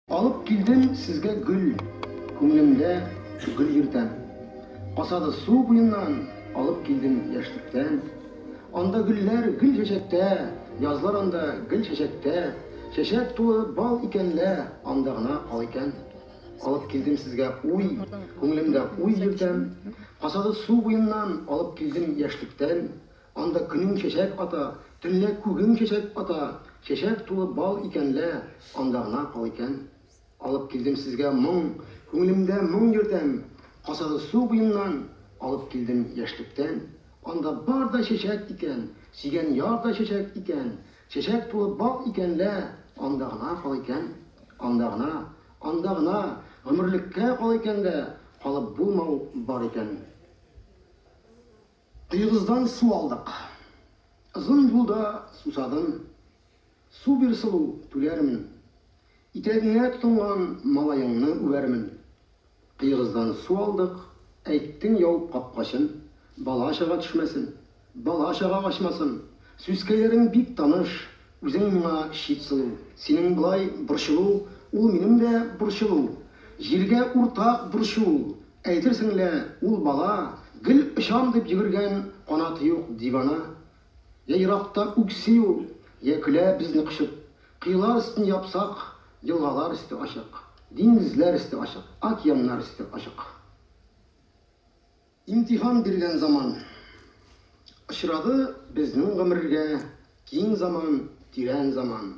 Алып килдем сезгә гөл, Күңлемдә гөл йөртәм. Касады су буеннан, Алып килдем яшьлектән. Анда гөлләр гел чәчәктә, Язлар анда гел чәчәктә. Чәчәк тулы бал икән лә, Анда гына кал икән. Алып килдем сезгә уй, Күңлемдә уй йөртәм. Касады су буеннан, Алып килдем яшьлектән. Анда көнең чәчәк ата, Төнлә күгең чәчәк ата, Чәчәк тулы бал икән лә, Анда гына кал икән. Алып килдем сезгә моң, Күңелемдә моң йөртәм, Касады су буеннан, Алып килдем яшьлектән. Анда бар да чәчәк икән, Сөйгән яр да чәчәк икән, Чәчәк тулы бал икән лә, Анда гына кал икән. Анда гына, анда гына, Гомерлеккә кал икән дә, Калып булмау бар икән. Коегыздан су алдык. Озын юлда сусадым. Су бир, сылу, түләрмен. Итәгеңә тотынган малаеңны үбәрмен. Коегыздан су алдык, әйттең ябып капкачын, бала-чага төшмәсен, бала-чага качмасын. Сүзкәйләрең бик таныш, Үзең моңа чит сылу. Синең болай борчылу Ул минем дә борчылу Җиргә уртак борчу ул Әйтерсең лә ул бала Гел очам дип йөгергән Канаты юк дивана Йә еракта үкси ул Йә көлә безне кочып Кыялар өстен япсак Елгалар өсте ачык Диңгезләр өсте ачык Океаннар өсте ачык. Имтихан биргән заман. Очрады безнең гомергә киң заман, тирән заман.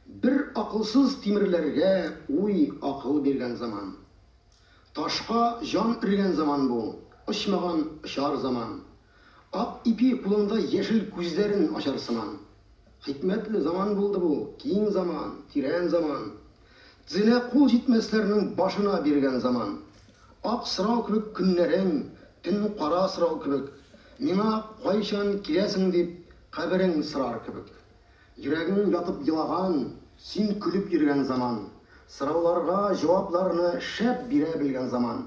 Бер акылсыз тимерләргә уй, акыл биргән заман. Ташка җан өргән заман бу, очмаган очар заман. Ак ипи кулыңда яшел күзләрен ачар сыман. Хикмәтле заман булды бу, киң заман, тирән заман. Дзенә кул җитмәсләрнең башына биргән заман. Ак сорау кебек көннәрең, төн кара сорау кебек. Миңа кайчан киләсең дип, каберең сорар кебек. Йөрәгең ятып елаган, син көлеп йөргән заман. Сорауларга җавапларны шәп бирә белгән заман.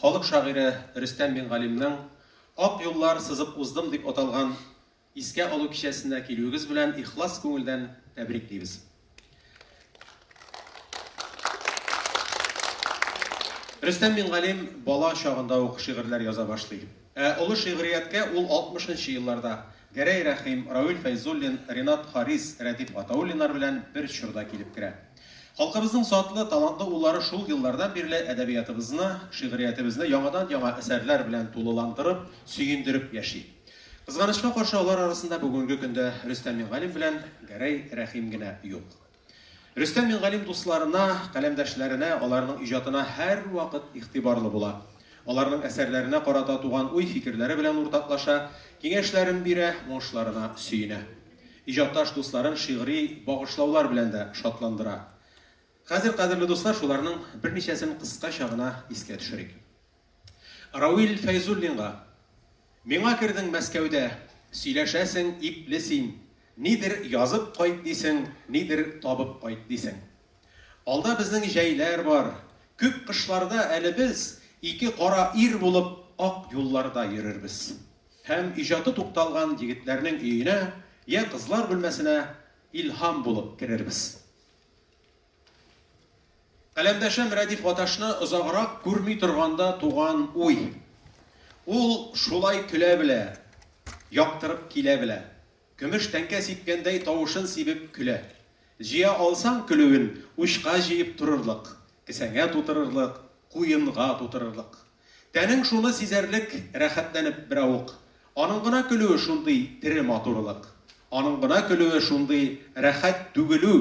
Халык шагыйре Рөстәм Мингалимнең Ак юллар сызып уздым дип аталган искә алу кичәсенә килүегез белән ихлас күңелдән тәбриклибез. Рөстәм Мингалим бала чагында ук шигырьләр яза башлый. Ә олы шигърияткә ул 60 нчы елларда, Гәрәй Рәхим, Равил Фәйзуллин, Ринат Харис, Рәдиф Гатауллиннар белән бер чорда килеп керә. Халкыбызның затлы, талантлы уллары шул еллардан бирле әдәбиятыбызны, шигъриятебезне яңадан-яңа әсәрләр белән тулыландырып, сөендереп яши. Кызганычка каршы, алар арасында бүгенге көндә Рөстәм Мингалим белән Гәрәй Рәхим генә юк. Рөстәм Мингалим дусларына, каләмдәшләренә, аларның иҗатына һәрвакыт игътибарлы була. Аларның әсәрләренә карата туган уй-фикерләре белән уртаклаша, киңәшләрен бирә, уңышларына сөенә. Иҗатташ дусларын шигъри багышлаулар белән дә шатландыра. Хәзер, кадерле дуслар, шуларның берничәсен кыскача гына искә төшерик. Равил Фәйзуллинга, Миңа кердең Мәскәүдә, сөйләшәсең ипле син, нидер язып кайт дисең, нидер табып кайт дисең. Алда безнең җәйләр бар, күп кышларда әле без, ике кара ир булып, ак юлларда йөрербез. Һәм иҗаты тукталган егетләрнең өенә, йә кызлар бүлмәсенә илһам булып керербез. Каләмдәшем Рәдиф Гаташны озаграк күрми торганда туган уй. Ул шулай көлә белә, яктырып килә белә. Көмеш тәңкә сипкәндәй тавышын сибеп көлә. Җыя алсаң көлүен, учка җыеп торырлык, кесәңә тутырырлык, куенга тутырырлык. Тәнең шуны сизәрлек рәхәтләнеп беравык. Аның гына көлүе шундый тере матурлык. Аның гына көлүе шундый рәхәт түгелү.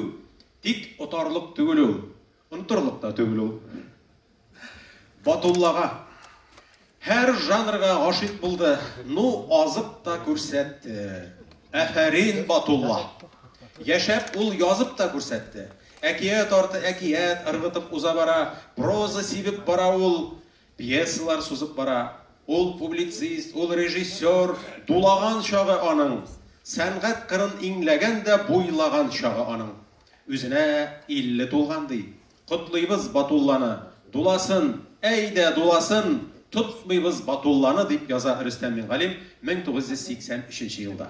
Тик отарлык түгел ул, онтырлык та түгел ул. Батуллага. Һәр жанрга гашыйк булды, ну азып та күрсәтте. Әфәрин Батулла. Яшәп ул язып та күрсәтте. Әкият арты әкият ыргытып уза бара, проза сибеп бара ул. Пьесалар сузып бара. Ул публицист, ул режиссер, дулаган чагы аның, сәнгать кырын иңләгән дә буйлаган чагы аның. Үзенә 50 тулган, ди. Котлыйбыз Батулланы, дуласын, әйдә, дуласын, тотмыйбыз Батулланы, дип яза Рөстәм Мингалим 1983 елда.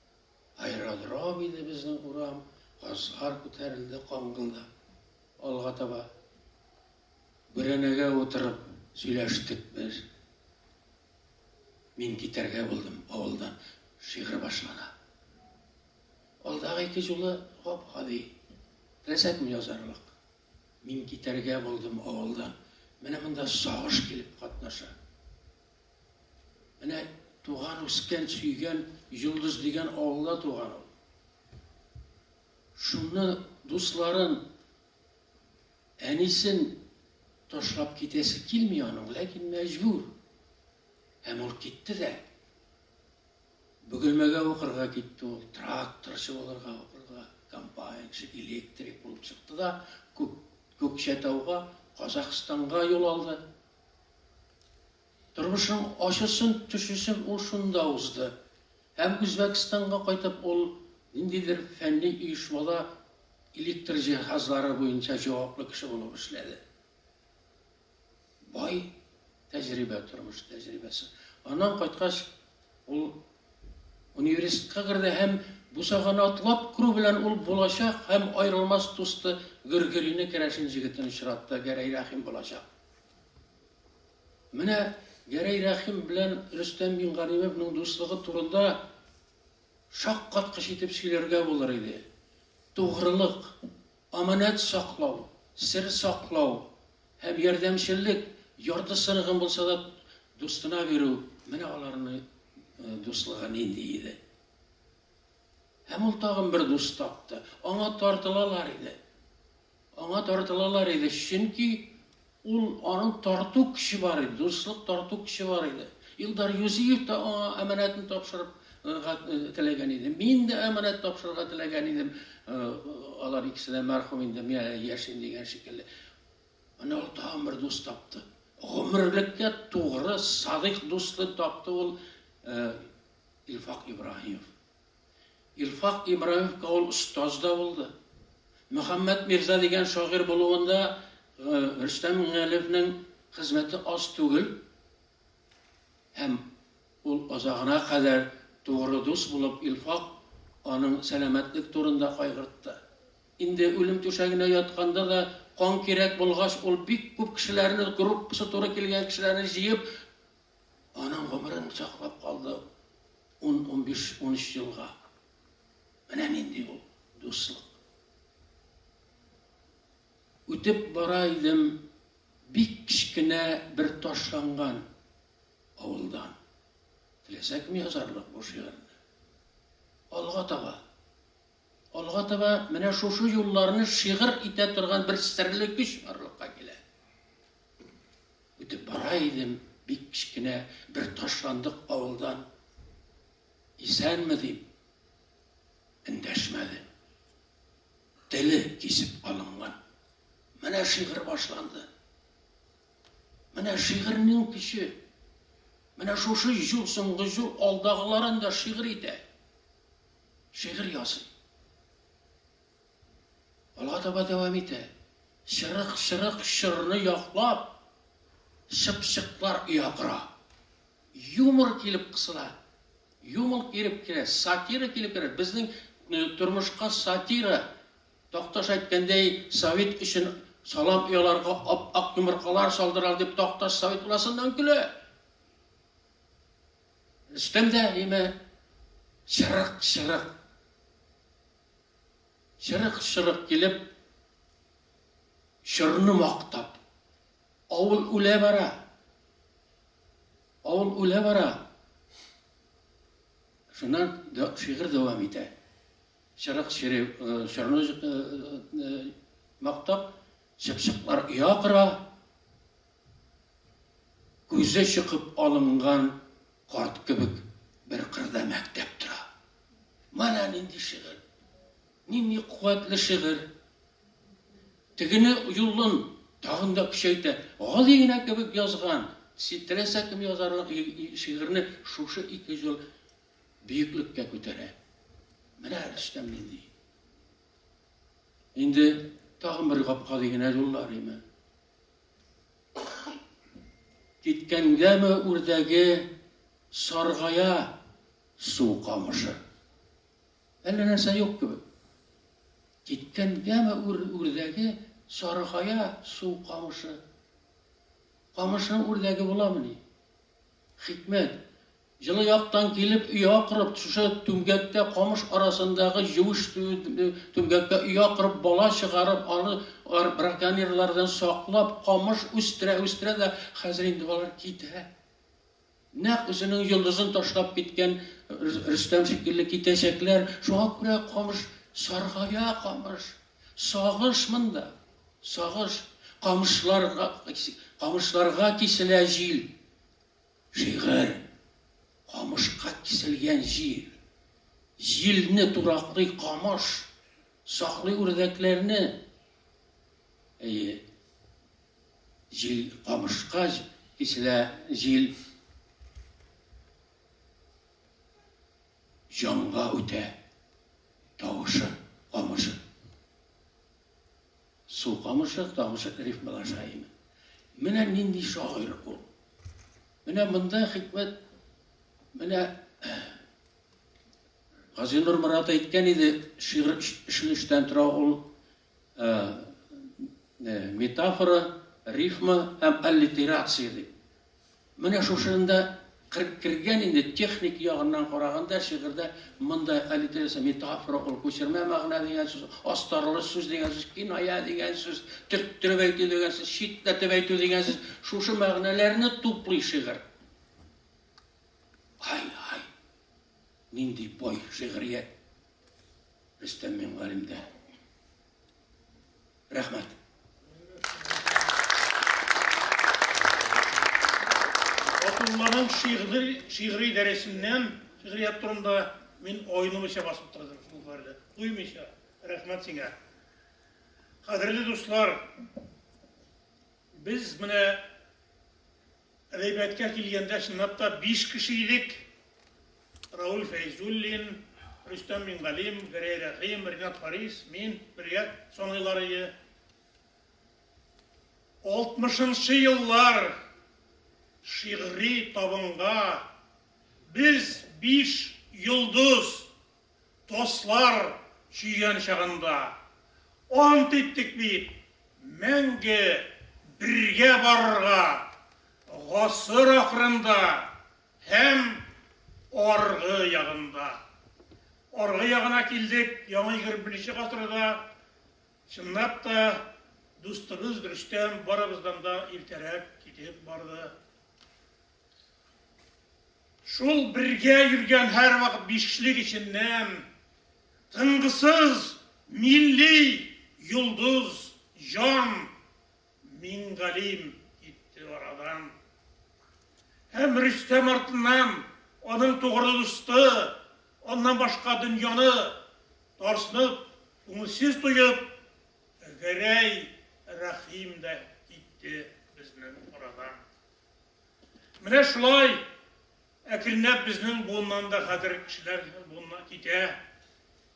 Аэродром иде безнең урам, Газлар күтәрелде кан гына. Алга таба Бүрәнәгә утырып сөйләштек без. Мин китәргә булдым авылдан. Шигырь башлана. Алдагы ике җулы гап-гади. Теләсәкме язарлык? Мин китәргә булдым авылдан. Менә монда сагыш килеп катнаша. Менә туган, үскән, сөйгән Йолдыз дигән авылда туган ул. Шунны дусларын, әнисен ташлап китәсе килми аның, ләкин мәҗбүр. Һәм ул китте дә. Бөгелмәгә укырга китте ул, тракторчы булырга укырга, комбайнчы, электрик булып чыкты да Күкчәтауга, Казахстанга юл алды. Тормышның ачысын, төчесен ул шунда узды. Һәм Үзбәкстанга кайтып ул ниндидер фәнни оешмада электр җиһазлары буенча җаваплы кеше булып эшләде. Бай тәҗрибә, тормыш тәҗрибәсе. Аннан кайткач, ул университетка керде һәм бусаганы атлап керү белән ул булачак һәм аерылмас дусты Гөргелине керәшен җегетен очратты, Гәрәй Рәхим булачак. Менә Гәрәй Рәхим белән Рөстәм Мингалимовның дуслыгы турында шаккаткыч итеп сөйләргә булыр иде. Тугрылык, аманәт саклау, сер саклау һәм ярдәмчеллек, ярты сырыгын булса да дустына бирү, менә аларның дуслыгы нинди иде. Һәм ул тагын бер дус тапты. Аңа тартылалар иде. Аңа тартылалар иде, чөнки ул, аның тарту көче бар иде, дуслык тарту көче бар иде. Илдар Юзиев та аңа әманәтен тапшырып теләгән иде. Мин дә әманәт тапшырырга теләгән идем. Алар икесе дә мәрхүм инде, мин әле яшим дигән шикелле. Менә ул тагын бер дус тапты. Гомерлеккә тугры, садыйк дусны тапты ул Илфак Ибраһимов. Илфак Ибраимовка ул остаз да булды. Мөхәммәт мирза дигән шагыйрь булуында Рөстәм Миңнегалиевнең хезмәте аз түгел. Һәм ул озагына кадәр тугры дус булып, Илфак аның сәламәтлек турында кайгыртты. Инде үлем түшәгенә ятканда да, кан кирәк булгач, ул бик күп кешеләрне, группасы туры килгән кешеләрне җыеп, Аның гомерен саклап калды ун-унбиш, унөч елга. Менә нинди ул дуслык. Үтеп бара идем бик кечкенә бер ташланган авылдан. Теләсә кем язарлык бу шигырьне. Алга таба Алга таба менә шушы юлларны шигырь итә торган бер серле көч барлыкка килә. Үтеп бара идем бик кечкенә бер ташландык авылдан. Исәнме дип эндәшмәде. Теле кисеп алынган. Менә шигырь башланды. Менә шигырьнең көче. Менә шушы җул, соңгы җул алдагыларын да шигырь итә. шигырь ясый. Алга таба дәвам итә. Чырык-чырык чорны яклап, чыпчыклар оя кора. Юмор килеп кысыла. Юмор килеп керә, сатира килеп керә. Безнең э, тормышка сатира. Такташ әйткәндәй, совет өчен салам ояларга ап-ак йомыркалар салдырал дип Такташ совет уласыннан көлә. Өстемдә әниемә чырык-чырык, чырык-чырык килеп, чорны мактап, авыл үлә бара, авыл үлә бара. Шуннан шигырь дәвам итә. Чырык чире, чорны мактап, чыпчыклар оя кора, Күзе чыгып алынган карт кебек бер кырда мәктәп тора. Менә нинди шигырь! Нинди куәтле шигырь! Тегене юлын тагын да көчәйтә. Гади генә кебек язган. Теләсә кем язарлык шигырьне шушы ике җол биеклеккә күтәрә. Менә Рөстәм нинди! Инде тагын бер гап-гади генә юллар име? Киткәнгәме үрдәге саргая су камышы. Әллә нәрсә юк кебек. Киткәнгәме үр, үрдәге саргая су камышы. Камышның үрдәге буламыни? Хикмәт, Җылы яктан килеп оя корып, шушы түмгәктә, камыш арасындагы юеш түмгәктә оя корып, бала чыгарып, аны браконьерлардан саклап, камыш үстерә-үстерә дә хәзер инде алар китә. Нәкъ үзенең йолдызын ташлап киткән Рөстәм шикелле китәчәкләр. Шуңа күрә камыш саргая, камыш. Сагыш монда. Сагыш. Камышларга, камышларга киселә җил. Шигырь, камышка киселгән җир. Җилне тураклый камыш, саклый үрдәкләрне. Әйе, җил камышка киселә, җил җанга үтә тавышы камышын. Су камышы, тамышы рифмалар җаеме. Менә нинди шагыйрь ул. Менә монда хикмәт, менә Гази Нурмурат әйткән иде, шигырь өчен өчтән тора ул метафора, рифма һәм аллитерация дип. Менә шушында кыр кергән инде, техник ягыннан караганда, шигырьдә монда аллитерация, метафора ул, күчермә мәгънә дигән сүз, астарлы сүз дигән сүз, киная дигән сүз, төрттереп әйтү дигән сүз, читләтеп әйтү дигән сүз, шушы мәгънәләрне туплый шигырь. Ай, ай, нинди бай шигърият Рөстәм Мингалимдә. Рәхмәт. Фатулланың шигъри шигъри дәресеннән шигърият турында мин айнымыйча басып тордым шул хәлдә. Туймыйча. Рәхмәт сиңа. Кадерле дуслар, без менә Рәйбәткә килгәндә, чынлап та, биш кеше идек. Рауль Фәйзуллин, Рөстәм Мингалим, Гәрәй Рәхим, Ринат Харис, мин, бергә саныйлар иде. Алтмышынчы еллар шигъри табынга без биш йолдыз Дуслар җыен чагында ант иттек бит, мәңге бергә барырга, гасыр ахырында һәм аргы ягында. Аргы ягына килдек, яңа егерме беренче гасырда, чынлап та, дустыбыз Рөстәм барыбыздан да иртәрәк китеп барды. Шул бергә йөргән һәрвакыт бишлек эченнән тынгысыз милли йолдыз Җан Мингалим китте арадан. Һәм Рөстәм артыннан аның тугры дусты, аннан башка дөньяны тарсынып, күңелсез тоеп, Гәрәй Рәхим дә китте безнең арадан. Менә шулай әкренләп безнең буыннан да хәзер кешеләр буынына китә.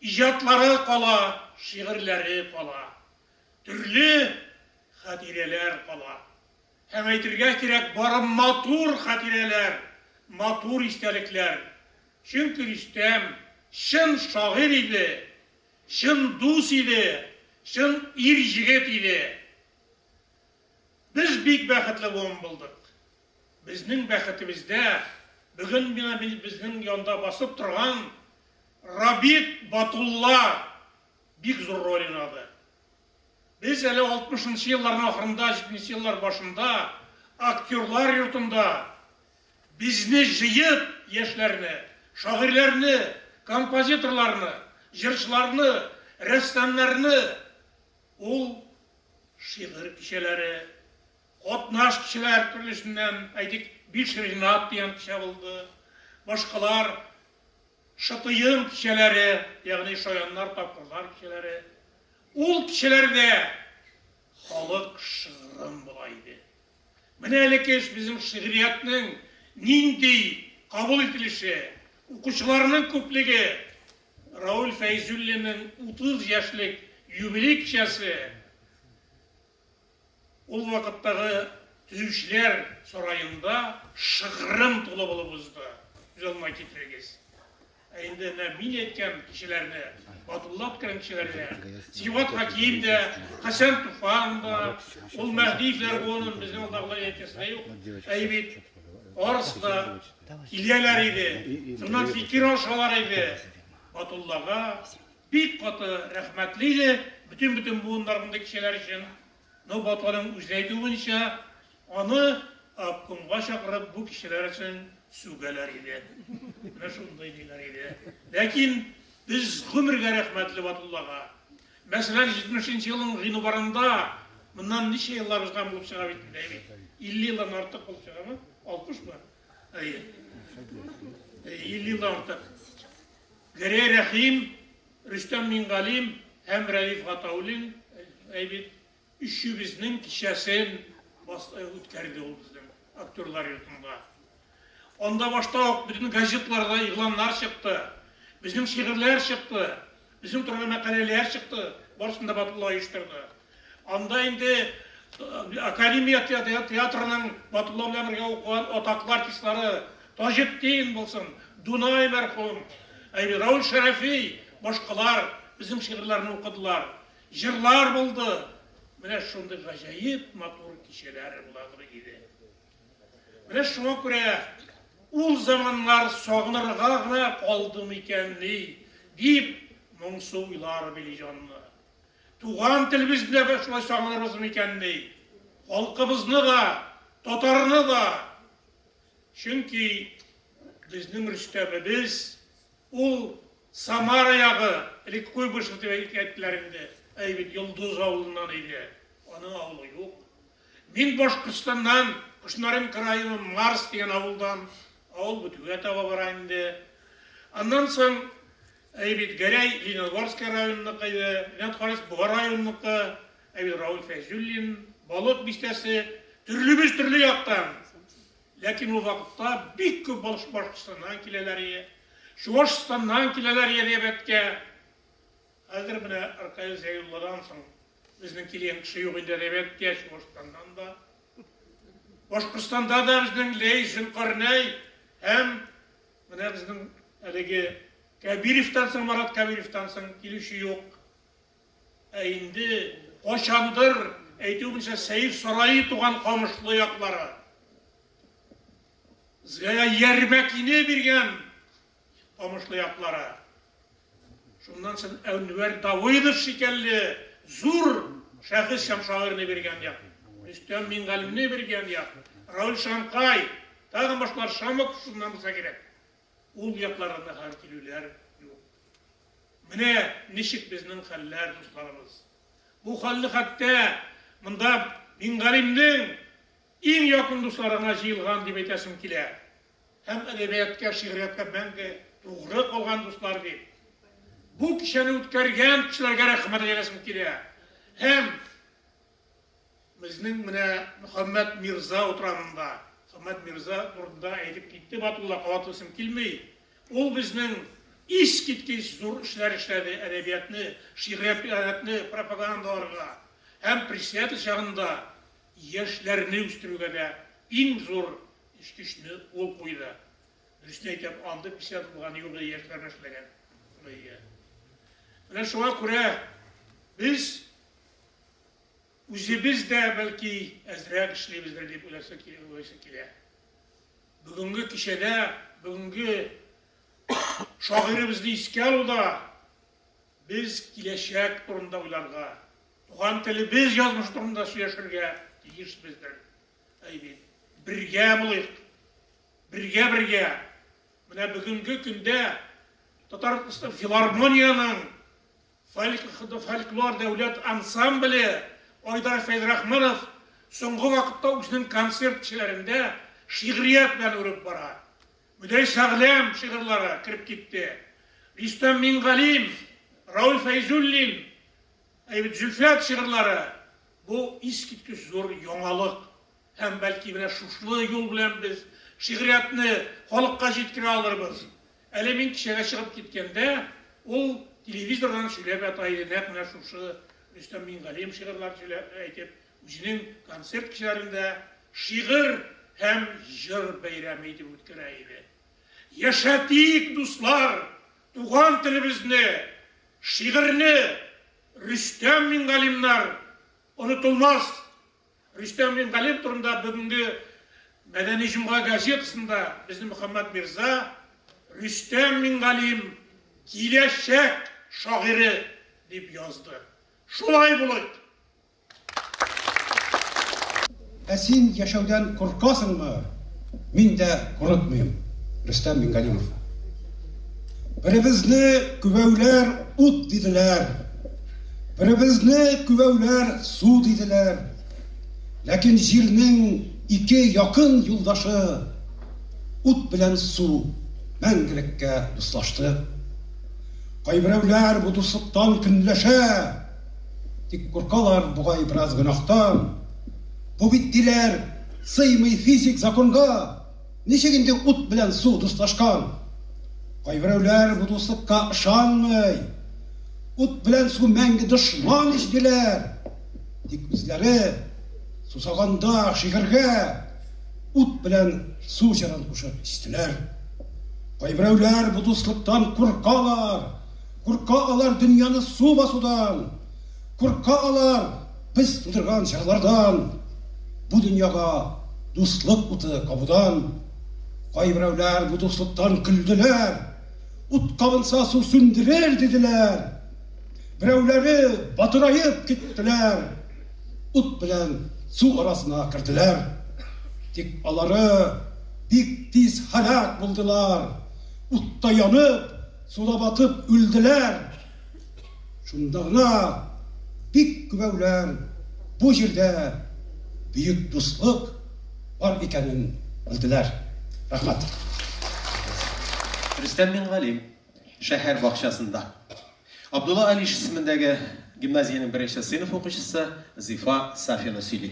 Иҗатлары кала, шигырьләре кала. Төрле хатирәләр кала. Һәм әйтергә кирәк, бары матур хатирәләр, матур истәлекләр. Чөнки Рөстәм чын шагыйрь иде, чын дус иде, чын ир-җегет иде. Без бик бәхетле буын булдык. Безнең бәхетебездә бүген менә безнең янда басып торган Рабит Батулла бик зур роль уйнады. Без әле алтмышынчы елларның ахырында, җитмешенче еллар башында актерлар йортында безне җыеп, яшьләрне, шагыйрьләрне, композиторларны, җырчыларны, рәссамнарны ул Шигырь кичәләре, катнаш кешеләр төрлесеннән, әйтик, Биш Ренат дигән кичә булды, башкалар, Шытыем кичәләре, ягъни шаяннар, тапкырлар кичәләре. Ул кичәләрдә халык шыгрым була иде. Менә әлеге эш безнең шигъриятнең нинди кабул ителеше, укучыларының күплеге Рауль Фәйзуллинның 30 яшьлек юбилей кичәсе, ул вакыттагы Төючеләр сараенда шыгрым тулы булып узды. Күз алдына китерегез. Ә инде менә мин әйткән кешеләрне, Батулла күтәргән кешеләргә, Сибгат Хәким дә, Хәсән Туфан да, ул Мәһдиевләр буынын безнең алдагылар әйтәсе дә юк. Әйе бит, барысы да киләләр иде, шуннан фикер алышалар иде. Батуллага бик каты рәхмәтле иде бөтен-бөтен буыннар мондый кешеләр өчен. Но Баталиның үзе әйтүе буенча, аны обкомга чакырып бу кешеләр өчен сүгәләр иде. Менә шундый диләр иде. Ләкин без гомергә рәхмәтле Батуллага. Мәсәлән, 70 нче елның гыйнварында, моннан ничә еллар узган булып чыга бит инде, әйбит. 50 елдан артык булып чыгамы? 60 мы? Әйе. 50 елдан артык. Гәрәй Рәхим Рөстәм Миңгалим һәм Рәиф Гатауллин бит Өчебезнең кичәсен үткәрде ул безнең актерлар йортында. Анда башта ук бөтен газетларда игъланнар чыкты, безнең шигырьләр чыкты, безнең турында мәкаләләр чыкты, барысын да Батулла оештырды. Анда инде Академия театрының Батулла белән бергә укыган атаклы артистлары Таҗетдин булсын, Дунай мәрхүм, Раул Шәрәфи, башкалар безнең шигырьләрне укыдылар. Җырлар булды. Менә шундый гаҗәеп матур кичәләр буладыр иде. Менә шуңа күрә ул заманнар сагынырга гына калды микәнни, дип моңсу уйлар били җанны. Туган телебезне дә без шулай сагынырбыз микәнни? Халкыбызны да, татарны да. Чөнки безнең Рөстәмебез, ул Самара ягы, элек Куйбышев дип әйтәләр инде, әй бит Йолдыз авылыннан иде. Аның авылы юк. Мин Башкортстаннан, Кушнаренко районы Марс дигән авылдан, авыл бетүгә таба бара инде. Аннан соң Әйе бит, Гәрәй Лениногорское районыныкы иде, менә карыйс Буа районыныкы, ә бит Рауль Фәйзуллин, Болыт бистәсе, төрлебез төрле яктан. Ләкин ул вакытта бик күп Башкортстаннан киләләр ие, Чуашстаннан киләләр ие Рябәткә. Хәзер менә Ркаил Зәйулладан соң безнең килгән кеше юк инде Рябәткә, Чуашстаннан да. Башкортстанда да безнең Ләй Зөлкарнәй һәм Менә безнең әлеге Кәбиревтән соң, Марат Кәбиревтән соң килүче юк. Ә инде качандыр, әйтүемчә, Сәйф сарае туган Камышлы яклары. Безгә Ярмәкине биргән Камышлы яклары. Шуннан сон Әнвәр Давыдов шикәлле зур шәхес һәм шагыйрьне биргән як, Рөстәм Мингалимне биргән як, Рауль Шанкай, тагын башкалар Шамов шуннан булса кирәк. Ул якларында хәзер килүләр юк. Менә ничек безнең хәлләр, дусларыбыз. Бу хәлне хәтта монда Мингалимнең иң якын дусларына җыелган дип әйтәсем килә. һәм әдәбияткә, шигърияткә мәңге тугры калган дуслар бит. Бу кичәне үткәргән кешеләргә рәхмәт әйтәсем килә. Һәм безнең менә Мөхәммәд Мирза утрамында, Мөхәммәд Мирза турында әйтеп китте Батулла, кабатлыйсым килми. Ул безнең искиткеч зур эшләр эшләде, әдәбиятны, шигъриятне пропагандаларга һәм пресс чагында Яшьләрне үстерүгә дә иң зур эчкечне ул куйды. Дөресен әйтәм, андый писатель булган юк иде, яшьләр белән эшләгән шулай иде. Менә шуңа күрә без үзебез дә бәлки әзрәк эшлибездер дип уйласы уйлыйсы килә. Бүгенге кичәдә, бүгенге шагыйребезне искә алуда без киләчәк турында уйларга, Туган телебез язмышы турында сөйләшергә тиешбездер. Әйбит. Бергә булыйк. Бергә бергә. Менә бүгенге көндә Татар филармониянең фольклор дәүләт ансамбле Айдар Фәйзрахманов соңгы вакытта үзенең концерт кичәләрендә шигърият белән үреп бара. Мөдәй Сәгъләм шигырьләре кереп китте. Рөстәм Мингалим, Рауль Фәйзуллин, Әйбәт Зөлфәт шигырьләре, бу искиткеч зур яңалык. Һәм, бәлки, менә шушы юл белән без шигъриятне халыкка җиткерә алырбыз. Әле мин кичәгә чыгып киткәндә, ул телевизордан сөйләп ята иде, нәкъ менә шушы Рөстәм Миңгалиев шигырьләр сөйләп әйтеп, үзенең концерт кичәләрен дә шигырь һәм җыр бәйрәме итеп үткәрә иде. Яшәтик, дуслар, туган телебезне! Шигырьне Рөстәм Мингалимнар онытылмас! Рөстәм Мингалим турында бүгенге Мәдәни җомга газетасында безнең Мөхәммәт Мирза, Рөстәм Мингалим, киләчәк шагыйре, дип язды. Шулай булыйк! Ә син яшәүдән куркасыңмы? Мин дә курыкмыйм. Рөстәм Мингалимов. Беребезне күбәүләр ут диделәр. Беребезне күбәүләр су диделәр. Ләкин җирнең ике якын юлдашы ут белән су мәңгелеккә дуслашты. Кайберәүләр бу дуслыктан көнләшә. Тик куркалар бугай бераз гөнаһтан. Бу бит, диләр, сыймый физик законга. Ничек инде ут белән су дуслашкан? Кайберәүләр бу дуслыкка ышанмый. Ут белән су мәңге дошман ич, диләр. Тик үзләре сусаганда шигырьгә Ут белән су җырын кушып эчтеләр. Кайберәүләр бу дуслыктан куркалар. Курка алар дөньяны су басудан, Курка алар без тудырган җырлардан, Бу дөньяга дуслык уты кабудан. Кайберәүләр бу дуслыктан көлделәр, Ут кабынса су сүндерер диделәр. Берәүләре батыраеп киттеләр, Ут белән су арасына керделәр. Тик алары бик тиз һәлак булдылар, Утта янып, Суда батып үлделәр. Шунда гына бик күбәүләр бу җирдә бөек дуслык бар икәнен белделәр. Рәхмәт. Рөстәм Мингалим шәһәр бакчасында. Абдулла Алиш исемендәге гимназиянең беренче сыйныф укучысы Зифа Сафина сөйли.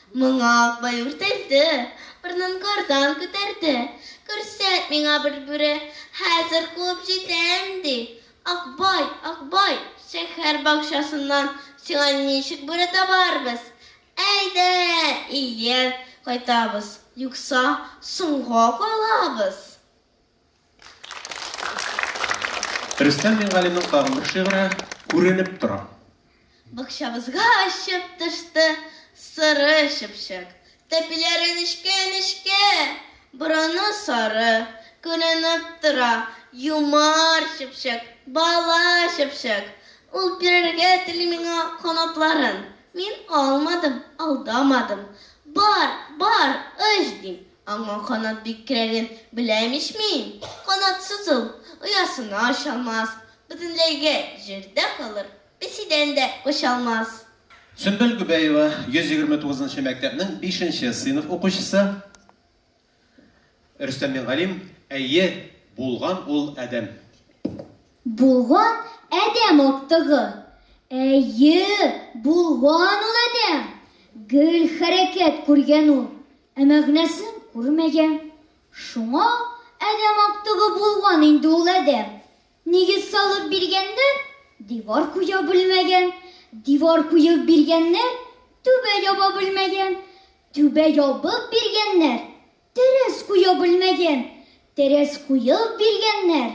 Моңа Акбай үртәлде, борынын кардан күтәрде. Күрсәт миңа бер бүре, хәзер куып җитәм, ди. Акбай, Акбай, шәһәр бакчасыннан сиңа ничек бүре табарбыз? Әйдә, ияр кайтабыз, юкса, соңга калабыз. Рөстәм Мингалимның тагын бер шигыре Күренеп тора. Бакчабызга очып төште соры чыпчык. Тәпиләре нечкә-нечкә, борыны сары. Күренеп тора юмар чыпчык, бала чыпчык. Ул бирергә тели миңа канатларын. Мин алмадым, алдамадым. Бар, бар, оч, дим, Аңа канат бик кирәген беләм ич мин! Канатсыз ул оясына оча алмас, бөтенләйгә җирдә калыр, песидән дә кача алмас. Сөмбел Гобәева, 129 нчы мәктәпнең бишенче сыйныф укучысы. Рөстәм Мингалим, Әйе, булган ул адәм. Булган адәм актыгы. Әйе, булган ул адәм. Гел хәрәкәт күргән ул. Ә мәгънәсен күрмәгән. Шуңа адәм актыгы булган инде ул адәм. Нигез салып биргәннәр, дивар куя белмәгән. Дивар куеп биргәннәр, түбә яба белмәгән. Түбә ябып биргәннәр, тәрәз куя белмәгән. Тәрәз куеп биргәннәр,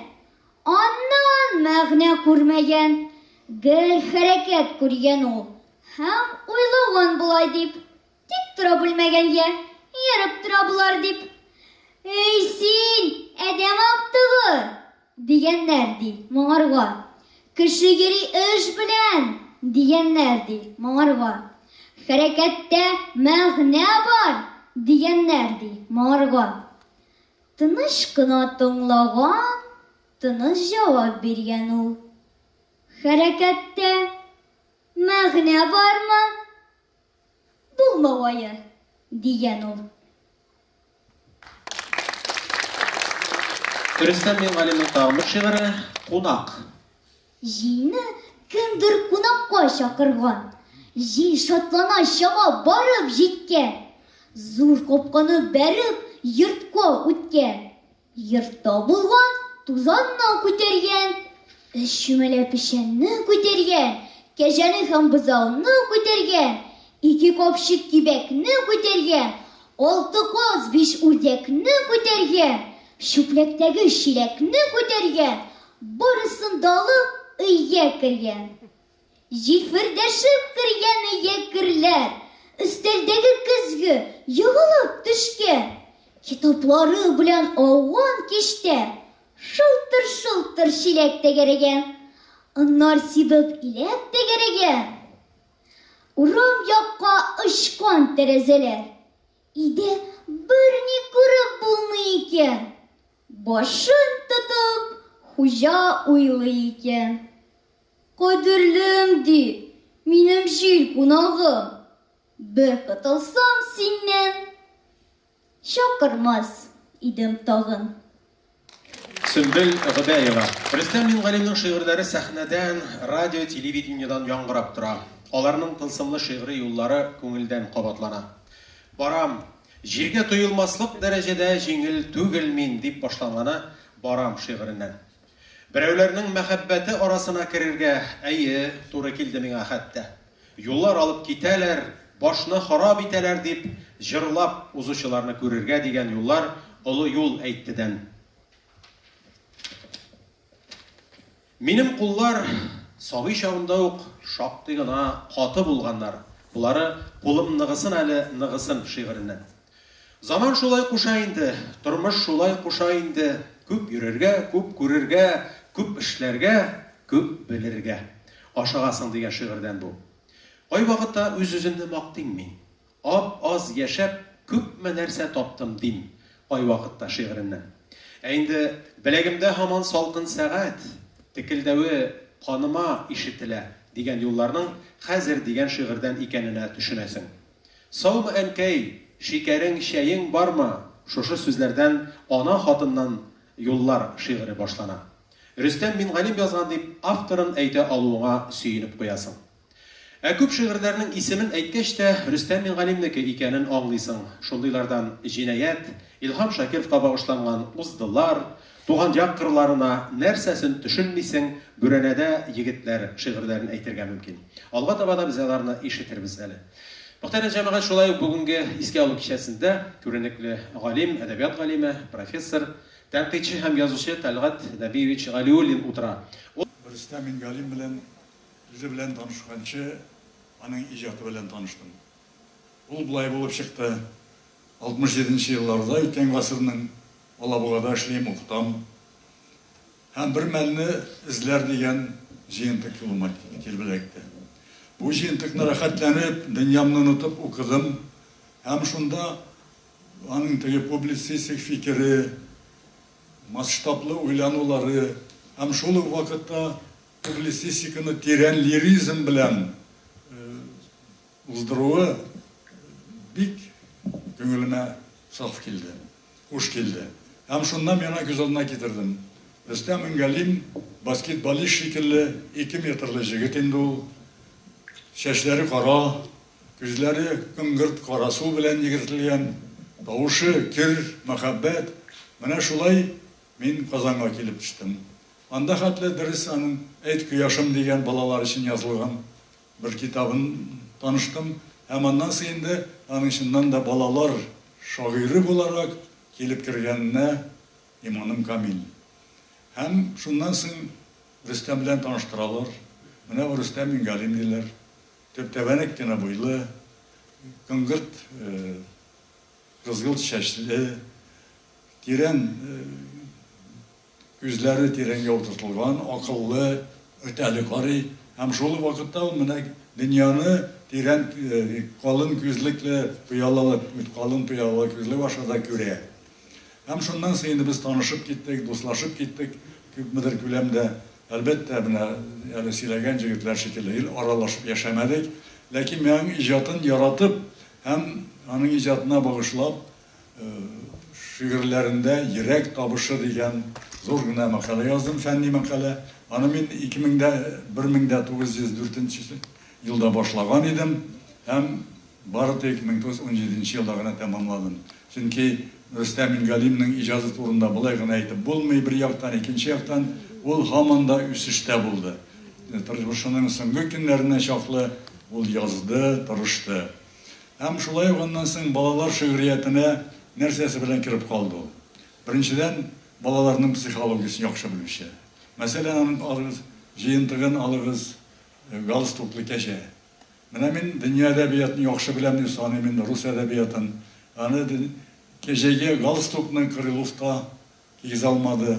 аннан мәгънә күрмәгән. Гел хәрәкәт күргән ул һәм уйлаган болай дип, Тик тора бүлмәгәнгә, ерып тора болар дип. Эй син, әдәм автыгы! дигәннәр ди моңарга. Кеше йөри эш белән, дигәннәр ди моңарга. Хәрәкәттә мәгънә бар, дигәннәр ди моңарга. Тыныч кына тыңлаган, тыныч җавап биргән ул. Хәрәкәттә мәгънә бармы? Булмау ае, дигән ул. Рөстәм Мингалимның тагын бер шигыре Кунак. Җилне кемдер кунакка чакырган. Җил шатлана чаба барып җиткән. Зур капканы бәреп йортка үткән. Йортта булган тузанны күтәргән, өч чүмәлә печәнне күтәргән, кәҗәне һәм бозауны күтәргән, ике капчык кибәкне күтәргән, алты каз, биш үрдәкне күтәргән, чүпләктәге чиләкне күтәргән, барысын да алып, өйгә кергән. Җилфердәшеп кергәне йә керләр, өстәлдәге көзге егылып төшкән китаплары белән ауган киштә шылтыр-шылтыр чиләк тәгәрәгән, аннар сибеп иләк тәгәрәгән, урам якка очкан тәрәзәләр иде берни күреп булмый икән, башын тотып хуҗа уйлый икән. Кадерлем, ди, минем җил кунагым. Бер котылсам синнән, чакырмас идем тагын. Сөмбел Гобәева. Рөстәм Мингалимның шигырьләре сәхнәдән, радио, телевидениедән яңгырап тора. Аларның тылсымлы шигъри юллары күңелдән кабатлана. Барам, җиргә тоелмаслык дәрәҗәдә җиңел түгел мин, дип башланганы Барам шигыреннән. Берәүләрнең мәхәббәте арасына керергә, әйе, туры килде миңа хәтта. Юллар алып китәләр, башны харап итәләр, дип җырлап узучыларны күрергә дигән юллар олы юл әйттедән. Минем куллар сабый чагымда ук шактый гына каты булганнар, болары Кулым ныгысын әле, ныгысын шигыреннән. Заман шулай куша инде, тормыш шулай куша инде, күп йөрергә, күп күрергә, күп эшләргә, күп белергә. Ашыгасың дигән шигырьдән бу. Кайвакытта үз-үземне мактыйм мин. Ап-аз яшәп, күпме нәрсә таптым, дим кайвакытта шигыреннән. Ә инде Беләгемдә һаман салкын сәгать текелдәве каныма ишетелә дигән юлларның хәзер дигән шигырьдән икәненә төшенәсең. Саумы әнкәй, шикәрең, чәең бармы? Шушы сүзләрдән Ана хатыннан юллар шигыре башлана. Рөстәм Мингалим язган дип авторын әйтә алуыңа сөенеп куясың. Ә күп шигырьләрнең исемен әйткәч тә, Рөстәм Мингалимнеке икәнен аңлыйсың, шундыйлардан Җинаять, Илһам Шакировка багышланган Уздылар, Туган як кырларына нәрсәсен төшенмисең, Бүрәнәдә егетләр шигырьләрен әйтергә мөмкин. Алга таба да без аларны ишетербез әле. Мөхтәрәм җәмәгать, шулай ук бүгенге искә алу кичәсендә күренекле галим, әдәбият галиме, профессор, тәнкыйтьче һәм язучы Тәлгать Нәбиевич Галиуллин утыра. Рөстәм Мингалим белән үзе белән танышканчы, аның иҗаты белән таныштым. Ул болай булып чыкты, 67 нче елларда үткән гасырның Алабугада эшлим, укытам һәм бер мәлне Эзләр дигән җыентык юлыма килеп эләкте. Бу җыентыкны рәхәтләнеп, дөньямны онытып укыдым һәм шунда аның теге публицистик фикере, масштаблы уйланулары һәм шул ук вакытта публицистиканы тирән лиризм белән Уздыруы бик күңелемә саф килде, хуш килде. Һәм шуннан миңа күз алдына китердем. Рөстәм Миңгалим, баскетболист шикелле, ике метрлы җегет инде ул. Чәчләре кара, күзләре коңгырт кара су белән йөгертелгән, тавышы көр, мәхәббәт. Менә шулай мин Казанга килеп төштем. Анда хәтле дөрес аның Әйт, кояшым дигән балалар өчен язылган. Бер китабын таныштым һәм аннан соң инде аның чыннан да балалар шагыйре буларак килеп кергәненә иманым камил. Һәм шуннан соң Рөстәм белән таныштыралар, менә бу Рөстәм Миңгалим диләр, төптәбәнәк кенә буйлы, коңгырт кызгылт чәчле, тирән Күзләре тирән ялтыртылган, акыллы, үтәле карый һәм шул ук вакытта ул менә дөньяны тирән, калын күзлекле пыялалы, калын пыялалы күзлек аша да күрә. Һәм шуннан соң инде без танышып киттек, дуслашып киттек күпмедер күләмдә. Әлбәттә, менә әле сөйләгән җегетләр шикелле гел аралашып яшәмәдек, ләкин миңа аның иҗатын яратып һәм аның иҗатына багышлап Шигырьләрендә йөрәк табышы дигән зур гына мәкалә яздым, фәнни мәкалә. Аны мин 1904 елда башлаган идем һәм бары тик 1917 елда гына тәмамладым. Чөнки Рөстәм Мингалимның иҗазы турында болай гына әйтеп булмый, бер яктан, икенче яктан, ул һаман да үсештә булды. Тормышының соңгы көннәренә чаклы ул язды, тырышты. Һәм шулай ук аннан соң балалар шигъриятенә нәрсәсе белән кереп калды ул? Беренчедән, балаларның психологиясен яхшы белүче. Мәсәлән, аның алыгыз җыентыгын алыгыз, галстуклы кәҗә. Менә мин дөнья әдәбиятын яхшы беләм дип саныйм инде, рус әдәбиятын. Аны кәҗәгә галстукны Крыловка Кигезә алмады.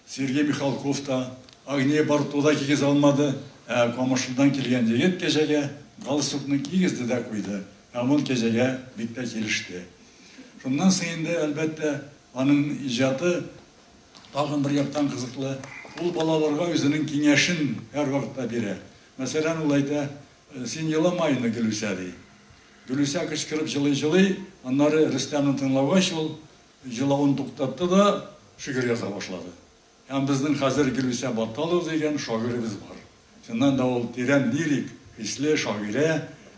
Сергей Михалков та, Агния Барто да кигезә алмады, ә Камышыннан килгән егет кәҗәгә галстукны кигезде дә куйды, һәм ул кәҗәгә бик тә килеште. Шуннан соң инде, әлбәттә, аның иҗаты тагын бер яктан кызыклы, ул балаларга үзенең киңәшен һәрвакыт та бирә. Мәсәлән, ул әйтә, Син елама инде, Гөлүсә, ди. Гөлүсә кычкырып җылый-җылый, аннары Рөстәмне тыңлагач, ул. Җылавын туктатты да шигырь яза башлады. Һәм безнең хәзер Гөлүсә Батталова дигән шагыйребез бар. Чыннан да ул тирән лирик хисле шагыйрә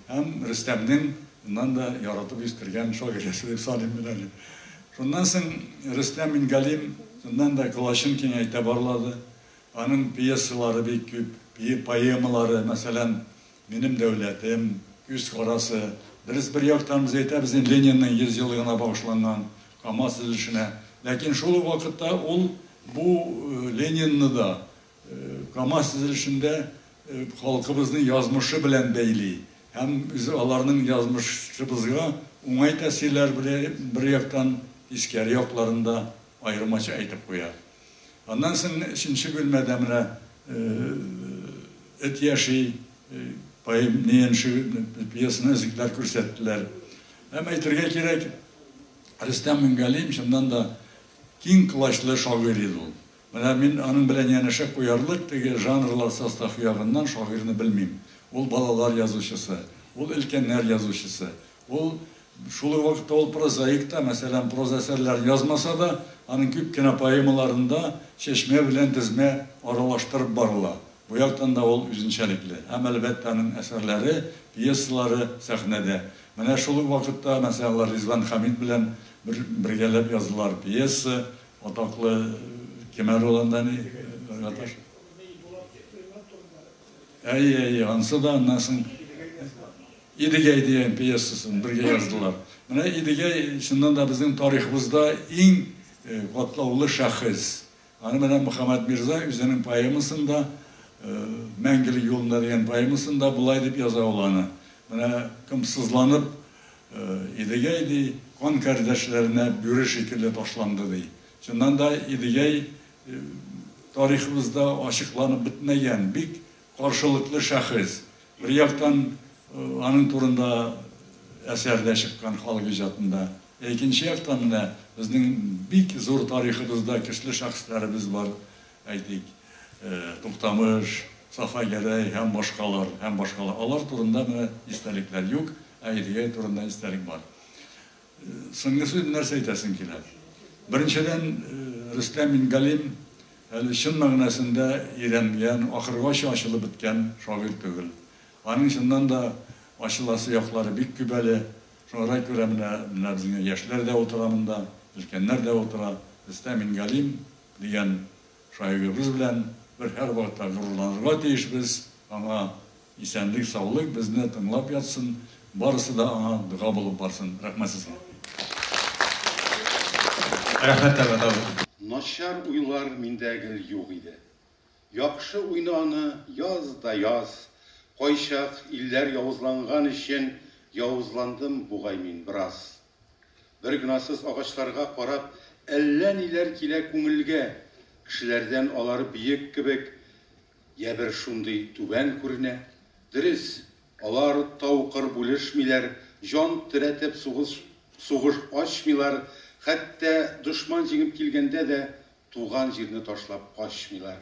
һәм Рөстәмнең чыннан да яратып үстергән шагыйрәсе дип саныйм мин әле. Шуннан соң Рөстәм Мингалим чыннан да колачын киңәйтә барлады. Аның пьесалары бик күп, поэмалары, мәсәлән, Минем дәүләтем, күз карасы, дөрес, бер яктан без әйтәбез инде Ленинның 100 еллыгына багышланган Камаз төзелешенә, ләкин шул ук вакытта ул бу Ленинны да Камаз төзелешендә халкыбызның язмышы белән бәйли һәм үзе аларның язмышыбызга уңай тәэсирләр бер яктан, тискәре якларын да, Аермача әйтеп куя. Аннан соң өченче бүлмәдә менә Эт яши пьесаны өзекләр күрсәттеләр. Һәм әйтергә кирәк, Рөстәм Мингалиев чыннан да киң колачлы шагыйрь иде ул. Менә мин аның белән янәшә куярлык теге жанрлар составы ягыннан шагыйрьне белмим. Ул балалар язучысы, ул өлкәннәр язучысы, Ул, шул ук вакытта ул прозаик та, мәсәлән, проза әсәрләрен язмаса да, аның күп кенә поэмаларында чәчмә белән тезмә аралаштырып барыла. Бу яктан да ул үзенчәлекле. Һәм, әлбәттә, аның әсәрләре, пьесалары сәхнәдә. Менә шул ук вакытта, мәсәлән, алар Ризван Хәмит белән бер бергәләп язылар пьеса, атаклы Кемәр ролендә ни, Рәгаташ? Әйе, әйе, ансы да, аннан соң, Идегәй дигән пьесасын бергә яздылар. Менә Идегәй чыннан да безнең тарихыбызда иң катлаулы шәхес. Аны менә Мөхәммәт Мирза үзенең поэмасында, Мәңгелек юлында дигән поэмасында болай дип яза ул аны. Менә кем сызланып Идегәй ди, кан кардәшләренә бүре шикелле ташланды ди. Чыннан да Идегәй тарихыбызда ачыкланып бетмәгән, бик Каршылыклы шәхес, бер яктан, аның турында әсәр дә чыккан халык иҗатында. Ә икенче яктан, менә безнең бик зур тарихыбызда көчле шәхесләребез бар, әйтик, Туктамыш, Сафа Гәрәй һәм башкалар, һәм башкалар. Алар турында менә истәлекләр юк, ә Идегәй турында истәлек бар. Соңгы сүз нәрсә әйтәсең килә? Беренчедән, Рөстәм Мингалим әле чын мәгънәсендә өйрәнгән, ахыргача ачылып беткән шагыйрь түгел. Аның чыннан да ачыласы яклары бик күп әле. Шуңарга күрә менә менә безнең яшьләр дә утыра монда, өлкәннәр дә утыра. Рөстәм Мингалим дигән шагыйребез белән бер һәрвакытта горурланырга тиешбез, аңа Исәнлек саулык безне тыңлап ятсын, барысы да аңа дога булып барсын, рәхмәт сезгә. Рәхмәт Тәлгат абый. Начар уйлар миндә гел юк иде. Яхшы уйна аны, яз да яз. Кайчак илләр явызланган өчен явызландым бугай мин бераз. Бер гнасыз агачларга карап әллә ниләр килә күңелгә, кешеләрдән алар биек кебек Йә бер шундый түбән күренә. Дөрес, алар тау-кыр бүлешмиләр, җан терәтеп сугыш сугыш ачмыйлар, хәтта дошман җиңеп килгәндә дә туган җирне ташлап качмыйлар.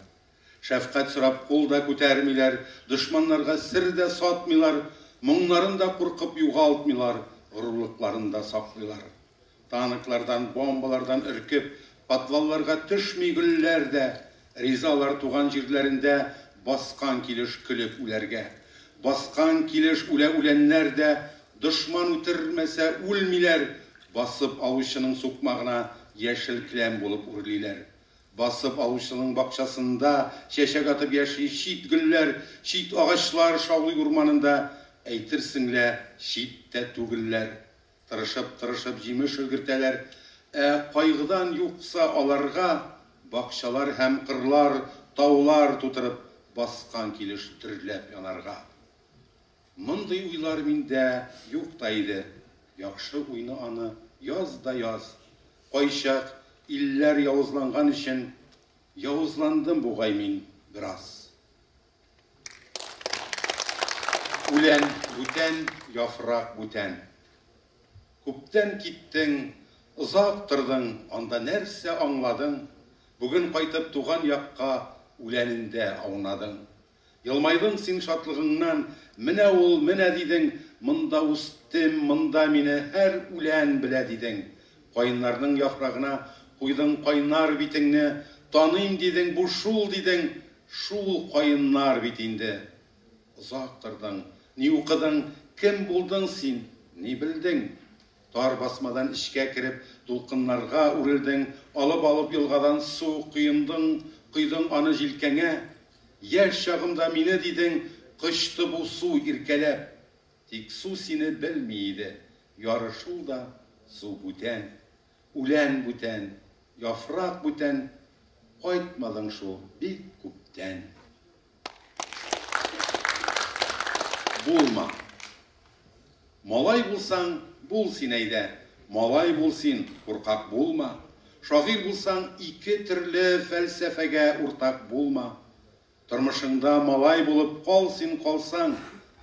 Шәфкать сорап кул да күтәрмиләр, дошманнарга сер дә сатмыйлар, моңнарын да куркып югалтмыйлар, горурлыкларын да саклыйлар. Танклардан, бомбалардан өркеп, подвалларга төшми гөлләр дә Ризалар туган җирләрендә баскан килеш көлеп үләргә. Баскан килеш үлә үләннәр дә Дошман үтермәсә үлмиләр Басып алучының сукмагына яшел келәм булып үрлиләр. Басып алучының бакчасында чәчәк атып яши Чит гөлләр, чит агачлар шаулый урманында Әйтерсең лә чит тә түгелләр. Тырышып-тырышып җимеш өлгертәләр, ә кайгыдан юкса аларга бакчалар һәм кырлар, таулар тутырып баскан килеш дөрләп янарга. Мондый уйлар миндә юк та иде, яхшы уйны аны яз да яз. Кайчак илләр явызланган өчен явызландым бугай мин бераз. Үлән бүтән, яфрак бүтән. Күптән киттең, озак тордың, анда нәрсә аңладың? Бүген кайтып туган якка үләнендә аунадың. Елмайдың син шатлыгыңнан, менә ул, менә дидең, монда үстем, монда мине һәр үлән белә дидең. Каеннарның яфрагына куйдың кайнар битеңне, таныйм дидең, бу шул дидең, Шул каеннар бит инде. Озак тордың, ни укыдың, кем булдың син, ни белдең? Тар басмадан эчкә кереп, дулкыннарга үрелдең, алып-алып елгадан су коендың, койдың аны җилкәңә. Яшь чагымда мине, дидең, кочты бу су иркәләп. Тик су сине белми иде, яры шул да, су бүтән. Үлән бүтән, яфрак бүтән, Кайтмадың шул бик күптән. Булма. Малай булсаң, бул син әйдә, Малай бул син, куркак булма. Шагыйрь булсаң, ике төрле Фәлсәфәгә уртак булма. Тормышыңда малай булып кал син Калсаң,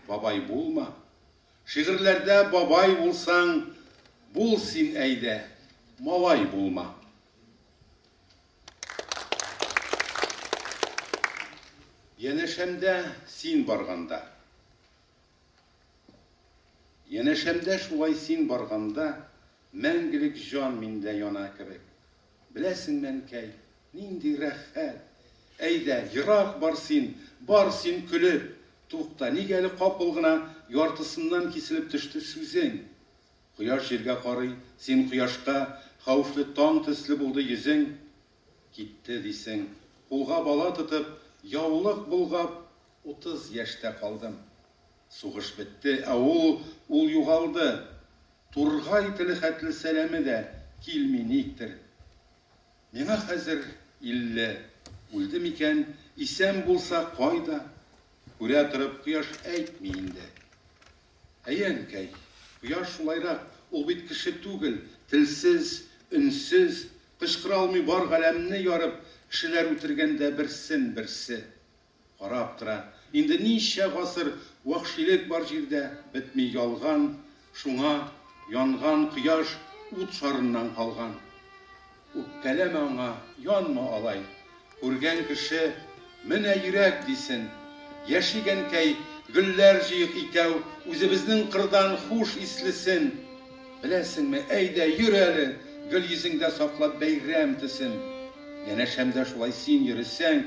бабай булма. Шигырьләрдә бабай булсаң, Бул син әйдә, малай булма. Янәшәмдә син барганда. Янәшәмдә шулай син барганда, Мәңгелек җан миндә яна кебек. Беләсеңме, әнкәй, нинди рәхәт! Әйдә, ерак бар син, бар син көлеп! Тукта, ник әле капыл гына яртысыннан киселеп төште сүзең? Кояш җиргә карый, син кояшка, хәвефле таң төсле булды йөзең. Китте, дисең, кулга бала тотып, яулык болгап. Утыз яшьтә калдым. Сугыш бетте, ә ул, ул югалды. Тургай теле хәтле сәламе дә килми никтер. Миңа хәзер илле. Үлде микән, исән булса, кайда? Күрә торып, кояш әйтми инде. Әйе, әнкәй, кояш шулайрак, ул бит кеше түгел, телсез, өнсез, кычкыра алмый бар галәмне ярып, кешеләр үтергәндә берсен-берсе. Карап тора. Инде ничә гасыр вәхшилек бар җирдә, бетми ялган, шуңа, янган кояш ут шарыннан калган. Үпкәләмә аңа, янма алай. Күргән кеше, Менә йөрәк, дисен. Яшик, әнкәй, гөлләр җыйыйк икәү, үзебезнең кырдан хуш ислесен. Беләсеңме, әйдә, йөр әле, гөл йөзеңдә саклап бәйрәм төсен. Янәшәмдә шулай син йөресәң.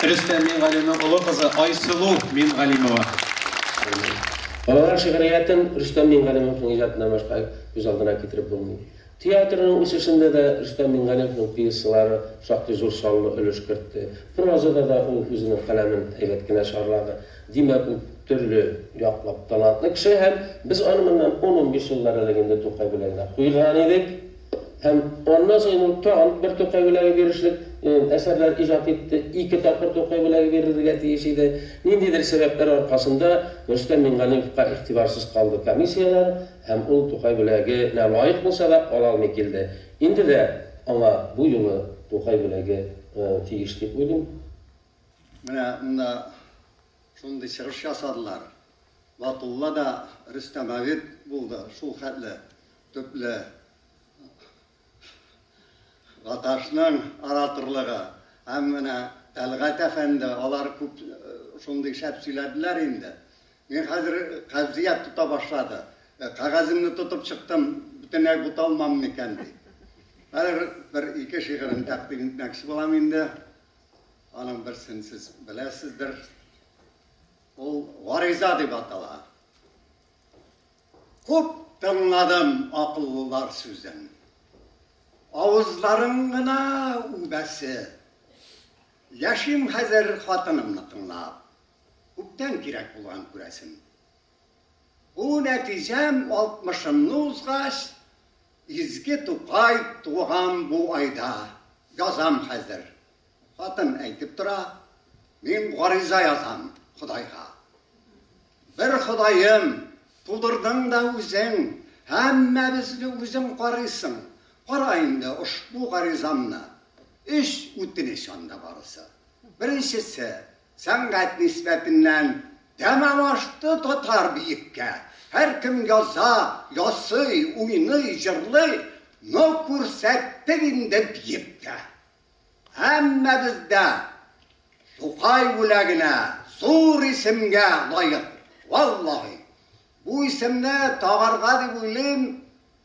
Рөстәм Мингалимның олы кызы Айсылу Мингалимова. Балалар шигъриятен Рөстәм Мингалимовның иҗатыннан башка күз алдына китереп булмый. Театрның үсешендә дә Рөстәм Мингалимовның пьесалары шактый зур саллы өлеш кертте. Прозада да ул үзенең каләмен әйбәт кенә чарлады. Димәк, ул төрле яклап талантлы кеше һәм без аны моннан ун-унбиш еллар элек инде Тукай белән дә куйган идек. Һәм аннан соң ул тагын бер Тукай бүләге бирешлек әсәрләр иҗат итте. Ике тапкыр Тукай бүләге бирелергә тиеш иде. Ниндидер сәбәпләр аркасында Рөстәм Миңгалиевка игътибарсыз калды комиссияләр һәм ул Тукай бүләгенә лаек булса да ала алмый килде. Инде дә аңа бу юлы Тукай бүләге тиеш дип уйлыйм. Менә монда шундый чыгыш ясадылар. Батулла да Рөстәм әбид булды шул хәтле Төпле Гаташның ораторлыгы һәм менә Тәлгать әфәнде, алар күп шундый шәп сөйләделәр инде. Мин хәзер кәгъзият тота башлады. Кәгаземне тотып чыктым, бөтенләй буталмам микән ди. Хәзер бер ике шигырен тәкъдим итмәкче булам инде. Аның берсен сез беләсездер. Ул Гариза дип атала. Күп тыңладым акыллылар сүзен. Авызларың гына үбәсе. Яшим хәзер хатынымны тыңлап. Күптән кирәк булган күрәсем. Бу нәтиҗәм алтмышымны узгач, Изге Тукай туган бу айда, язам хәзер, Хатын әйтеп тора, Мин гариза язам Ходайга. Бер Ходаем, тудырдың да үзең, һәммәбезне үзең карыйсың. Кара инде ошбу гаризамны. Өч үтенеч анда барысы. Беренчесе, сәнгать нисбәтеннән тәмам ашты татар биеккә. Һәркем яза, ясый, уйный, җырлый, но күрсәттек инде биеккә. Һәммәбез дә Тукай бүләгенә, зур исемгә лаек. Валлаһи, бу исемне тагарга дип уйлыйм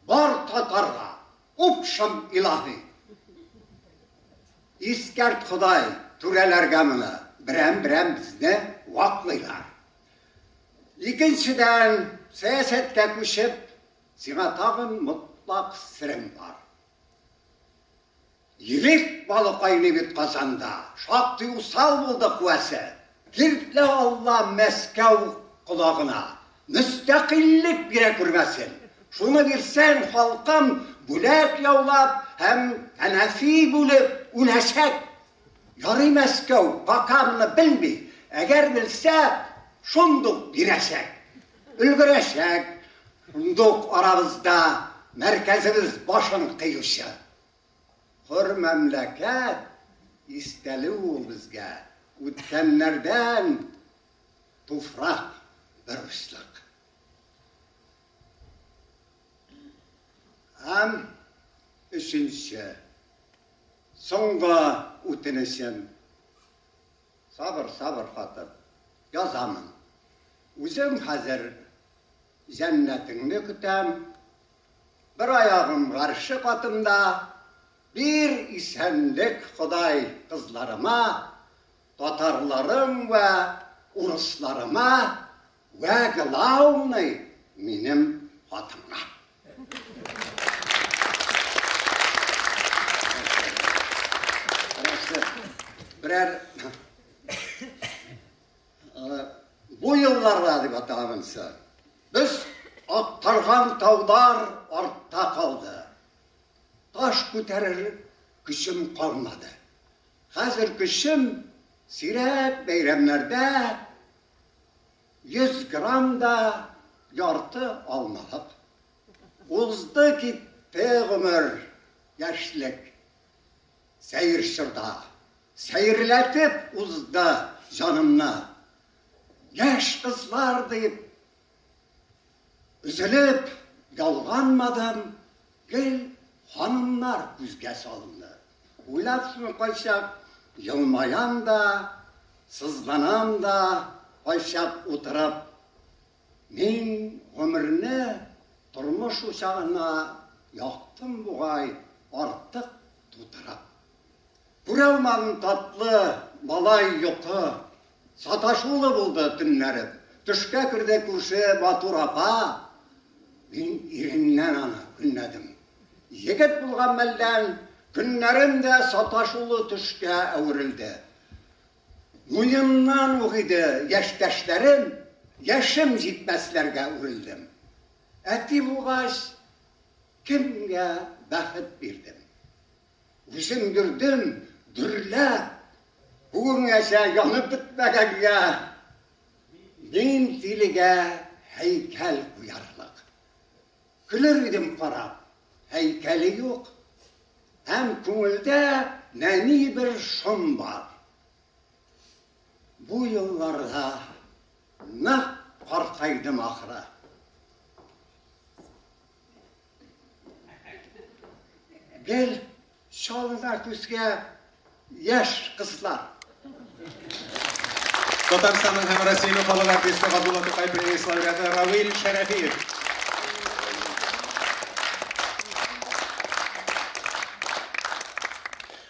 бар татарга. Упшым илаһи! Искәрт Ходай түрәләргә моны, берәм-берәм безне ваклыйлар. Икенчедән, сәясәткә күчеп, сиңа тагын мотлак серем бар. Ирек балы кайный бит Казанда, шактый усал булды куәсе. Бирде Алла Мәскәү колагына, мөстәкыйльлек бирә күрмәсен. Шуны бирсәң, халкым бүләк яулап һәм тәнәфи бүлеп үләчәк. Ярый Мәскәү бакармы белми, әгәр белсә, шундук бирәчәк. Өлгерәчәк, шундук арабызда мәркәзебез башын кыючы. Хур мәмләкәт, истәле ул безгә, үткәннәрдән туфрак бер учлык. Һәм өченче. Соңгы үтенечем. Сабыр, сабыр, хатын. Язамын. Үзем хәзер җәннәтеңне көтәм. Бер аягым гарше катында. Бир исәнлек, Ходай, кызларыма, татарларым вә урысларыма! Вә глаумный минем хатынга. Берәр бу елларда дип атагансы. Без актарган таудар артта калды. Таш күтәрер көчем калмады. Хәзер көчем сирәк бәйрәмнәрдә 100 грамм да ярты алмалык. Узды китте гомер, яшьлек. Сәер чорда сәерләтеп узды җанымны. Яшь кызлар дип Өзелеп ялганмадым, гел ханымнар күзгә салынды. Уйлап шуны кайчак елмаям да, сызланам да, кайчак утырып, мин гомерне тормыш учагына яктым бугай, артык тутырып. Күралмам татлы малай йокы, Саташулы булды төннәрем. Төшкә керде күрше матур апа, Мин иреннән аны көнләдем. Егет булган мәлдән көннәрем дә Саташулы төшкә әверелде. Муеннан ук иде яшьтәшләрем, Яшем җитмәсләргә үрелдем. Әти булгач, кемгә бәхет бирдем? Үземдердем, дөрләп, бүгенгәчә янып бетмәгәнгә мин тилегә һәйкәл куярлык. Көлер идем карап, һәйкәле юк. Һәм күңелдә нәни бер шом бар. Бу елларда нык картайдым, ахры. Гел чалына күзгә яшь кызлар. Татарстанның һәм Россиянең халык артисты Габдулла Тукай премиясе лауреаты Равил Шәрәфиев.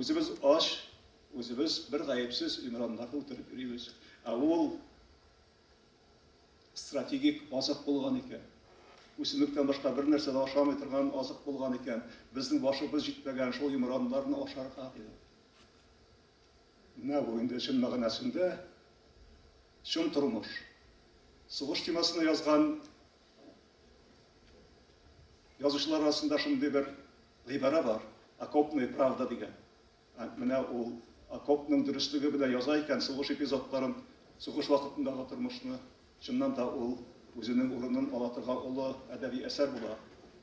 Үзебез ач, үзебез бер гаепсез имраннарны үтереп йөрибез. Ә ул стратегик азык булган икән. Үсемлектән башка бер нәрсә дә ашамый торган азык булган икән. Безнең башыбыз җитмәгән шул имраннарны ашарга иде. Менә бу инде чын мәгънәсендә чын тормыш. Сугыш темасына язган Язучылар арасында шундый бер гыйбарә бар, окопная правда дигән. Менә ул окопның дөреслеге белән яза икән сугыш эпизодларын, сугыш вакытындагы тормышны. Чыннан да, ул үзенең урынын ала торган олы әдәби әсәр була.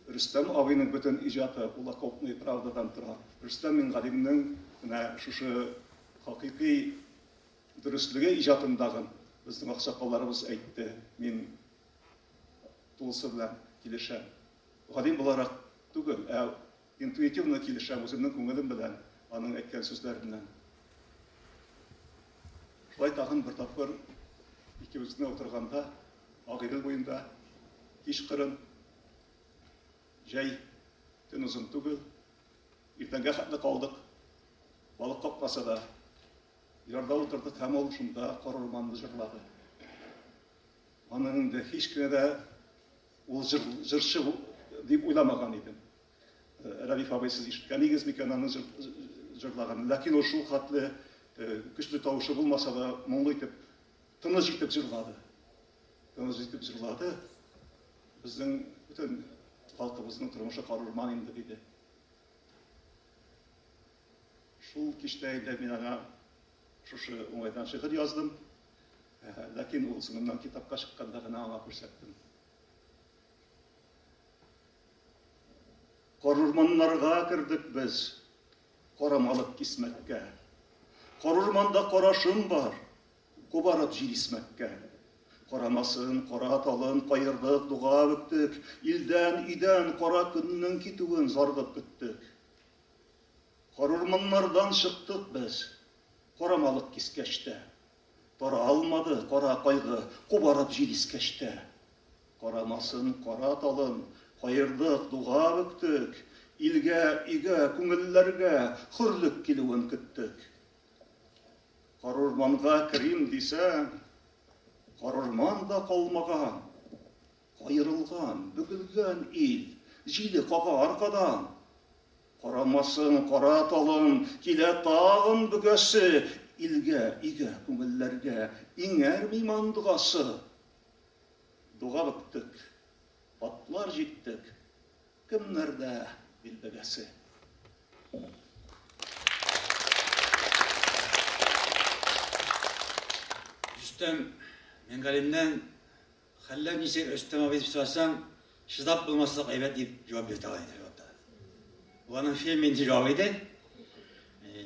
Рөстәм абыйның бөтен иҗаты ул окопная правдадан тора. Рөстәм Миңгалимнең менә шушы хакыйкый дөреслеге иҗатындагын безнең аксакалларыбыз әйтте. Мин Тулысы белән килешәм. Галим буларак түгел, ә интуитивно килешәм үземнең күңелем белән аның әйткән сүзләреннән. Шулай тагын бер тапкыр икебез генә утырганда Агыйдел буенда кичкырын, җәй, төн озын түгел, иртәнгә хәтле калдык. Балык капмаса да, ярда утырдык һәм ул шунда коры романны җырлады. Аны инде һич кенә дә ул җыр, җырчы бу, дип уйламаган идем. Рәдиф абый, сез ишеткәнегез микән аның җыр, җырлаганын? Ләкин ул шул хәтле көчле тавышы булмаса да, моңлы итеп, тыныч итеп җырлады. Тыныч итеп җырлады. Безнең бөтен халкыбызның тормышы карурман инде, диде. Шул кичтә инде мин аңа Шушы уңайдан шигырь яздым. Ләкин ул соңыннан китапка чыкканда гына аңа күрсәттем. Карурманнарга кердек без, карамалык кисмәккә. Карурманда карашым бар, кубарып җир исмәккә. Карамасын, кара талын каердык, дуга бөктек. Илдән, өйдән кара көннең китүен заргып көттек. Карурманнардан чыктык без. Карамалык кискәч тә. Таралмады кара кайгы, Кубарып җил искәч тә. Карамасын кара талын, Каердык, дуга бөктек. Илгә, өйгә, күңелләргә Хөрлек килүен көттек. Карурманга керим дисәм, Карурман да калмаган. Аерылган, бөгелгән ил. Җиле кага аркадан. Карамасын, кара талын. Килә тагын бөгәсе. Илгә, өйгә, күңелләргә. Иңәр миман догасы. Дога бөктек. Атлар җиктек. Кемнәрдә ил бәгәсе? Рөстәм Миңгалиннән Хәлләр ничек, Рөстәм абый, дип сорасаң, чыдап булмаслык әйбәт, дип җавап бирде алай дип җавапта. Бу аның фильм инде җавабы иде. Э,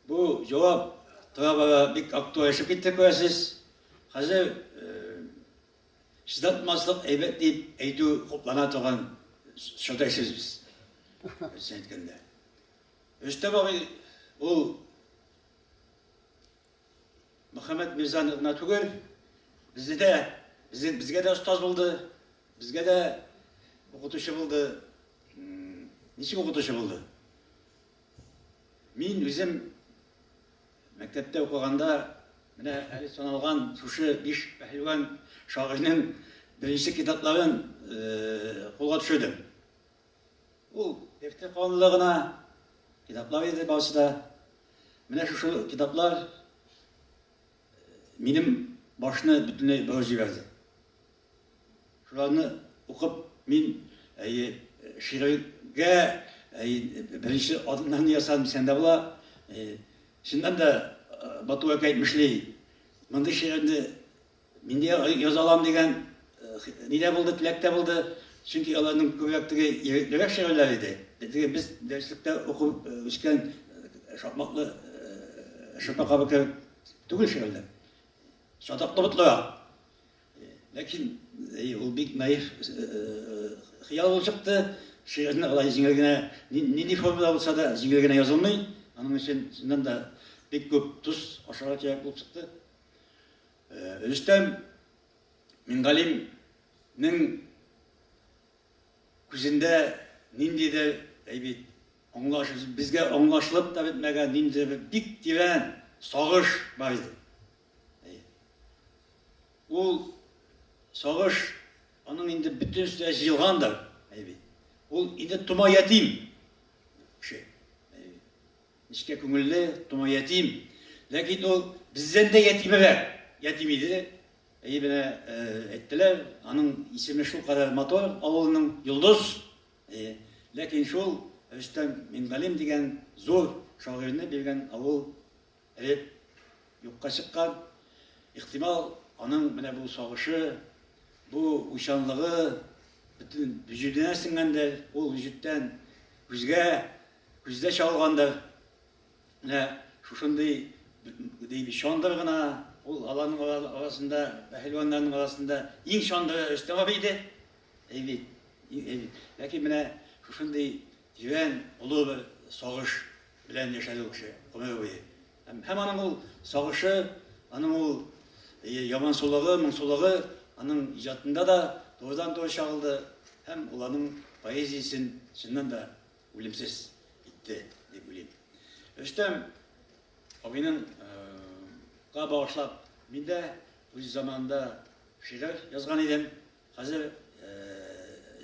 бу җавап тора бара бик актуальшып китте күрәсез. Хәзер э, чыдап булмаслык әйбәт дип әйтү хуплана торган чорда яшибез без. Рөстәм әйткәндә. Рөстәм абый ул Мөхәммәт мирзаны гына түгел, безне дә, безне, безгә дә остаз булды, безгә дә укытучы булды. Ничек укытучы булды? Мин үзем мәктәптә укыганда, менә әле саналган шушы биш пәһлеван шагыйрьнең беренче китапларын кулга төшердем. Ул эфте канлы гына китаплар иде барысы да. Менә шушы китаплар минем башны бөтенләй борып җибәрде. Шуларны укып мин әйе шигырьгә беренче адымнарны ясадым дисәң дә була. Чыннан да Бату әкә әйтмешли, мондый шигырьне Нинди яза алам дигән ни дә булды, теләк тә булды. Чөнки аларның күбрәк теге егетлерәк шигырьләр иде. Теге без дәреслектә укып үскән шакмаклы шырпа кабы кебек түгел шигырьләр. Чатаклы ботлырак. Ләкин ул бик наив хыял булып чыкты. Шигырьне алай җиңел генә, нинди формада булса да, җиңел генә язылмый. Аның өчен, чыннан да, бик күп тоз ашарга кирәк булып чыкты. Э, Рөстәм Мингалимнең күзендә ниндидер, әй бит, аңлаш, безгә аңлашылып та бетмәгән ниндидер бер бик тирән сагыш бар иде. Ул сагыш аның инде бөтен өстенә җыелгандыр, әй бит. Ул инде тома ятим. Нечкә күңелле, тома ятим. Ләкин ул бездән дә ятимрәк. Ятим иде. Әйе, менә әйттеләр, аның исеме шулкадәр матур, авылның Йолдыз. Әйе. Ләкин шул Рөстәм Мингалим дигән зур шагыйрьне биргән авыл эреп, юкка чыккан. Ихтимал, аның менә бу сагышы, бу уйчанлыгы бөтен вөҗүденә сеңгәндер. Ул вөҗүдтән күзгә Күздә чагылгандыр, менә шушындый дип чандыр гына, ул аларның арасында, пәһелваннарның арасында иң чандыры Рөстәмов иде. Әй бит, әй бит. Ләкин менә шушындый тирән, олы бер сагыш белән яшәде ул кеше гомере буе. Һәм аның ул сагышы, аның ул ямансулыгы, моңсулыгы аның иҗатында да турыдан-туры чагылды һәм ул аның поэзиясен чыннан да үлемсез итте дип уйлыйм. Рөстәм абыйның га багышлап мин дә үз заманында шигырь язган идем. Хәзер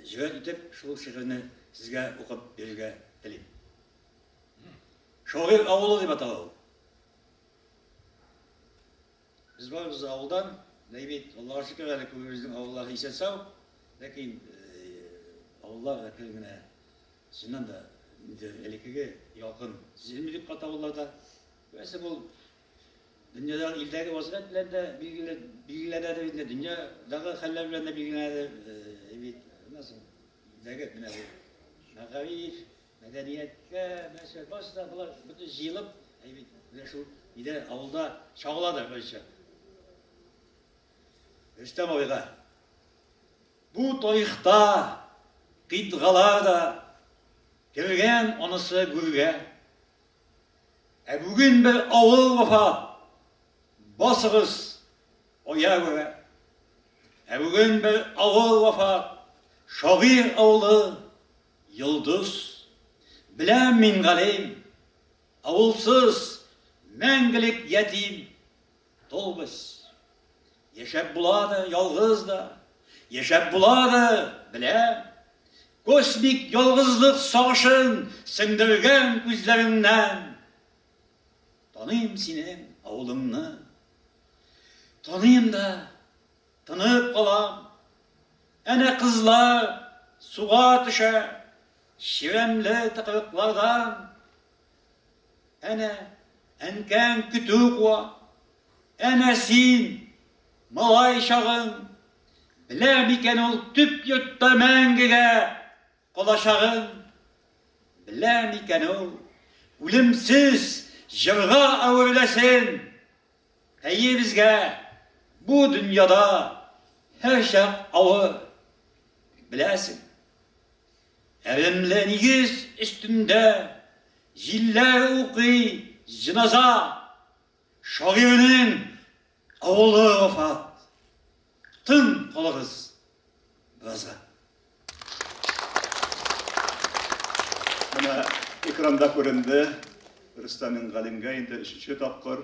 җөрьәт итеп шул шигырьне сезгә укып бирергә телим. Шагыйрь авылы дип атала ул. Без барыбыз да авылдан, бәйбит, Аллага шөкер әле күбебезнең авыллар исән сау, ләкин авыллар әкрен генә чыннан да инде элеккеге ялкын сизелми бик кат авылларда. Күрәсең ул дөньяда илдәге вазгыять белән дә билгеләнәдер инде, дөньядагы хәлләр белән дә билгеләнәдер бит. Аннан соң илдәге менә бу мәгариф, Мәдәнияткә нәрсә барсы да болар бөтен җыелып, әй бит, менә шул өйдә авылда чагыладыр берничә. Рөстәм абыйга бу тарихта кыйтгалар да кергән анысы гүргә. Ә бүген бер авыл вафат. Басыгыз аягүрә. Ә бүген бер авыл вафат. Шагыйрь авылы Йолдыз. Беләм мин, галим. Авылсыз, мәңгелек ятим. Долбыз. Яшәп була да, ялгыз да. Яшәп була да, беләм. Космик ялгызлык сагышын сеңдергән күзләреңнән. Таныйм синең авылыңны. Таныйм да, Тынып калам. Әнә кызлар суга төшә, чирәмле тыкрыклардан. Әнә әнкәң көтү куа. Әнә син, малай чагың, белә микән ул төп йортта мәңгегә калачагын? Белә микән ул үлемсез җырга әвереләсен? Әйе, безгә бу дөньяда һәрчак авыр. Беләсең, әремле нигез өстендә җилләр укый җеназа, шагыйрьнең авылы вафат. Тын калыгыз беразга. Менә экранда күренде. Рөстәмин Галимгә инде өченче тапкыр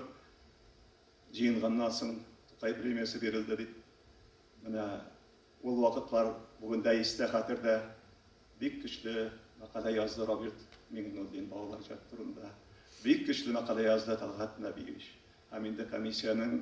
җыенганнан соң Тукай премиясе бирелде бит. Менә ул вакытлар бүген дә истә хәтердә. Бик көчле мәкалә язды Роберт Миңнуллин балалар җат турында. Бик көчле мәкалә язды Талгат Нәбиевич. Һәм инде комиссиянең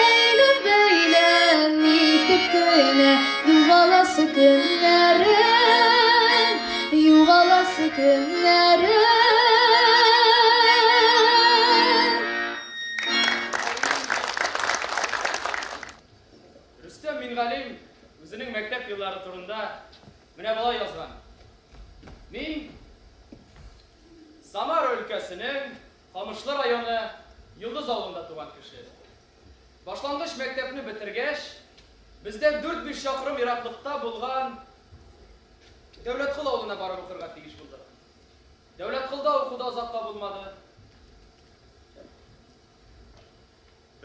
Әйләп бәйләп нитеп кенә Югаласы көннәрен Югаласы көннәрен Рөстәм Мингалим үзенең мәктәп еллары турында менә болай язган, Мин Самара өлкәсенең Камышлы районы Йолдыз авылында туган кеше. Башлангыч мәктәпне бетергәч, бездән дүрт-биш чакрым ераклыкта булган Дәүләткол авылына барып укырга тиеш булдык. Дәүләтколда уку да озакка булмады.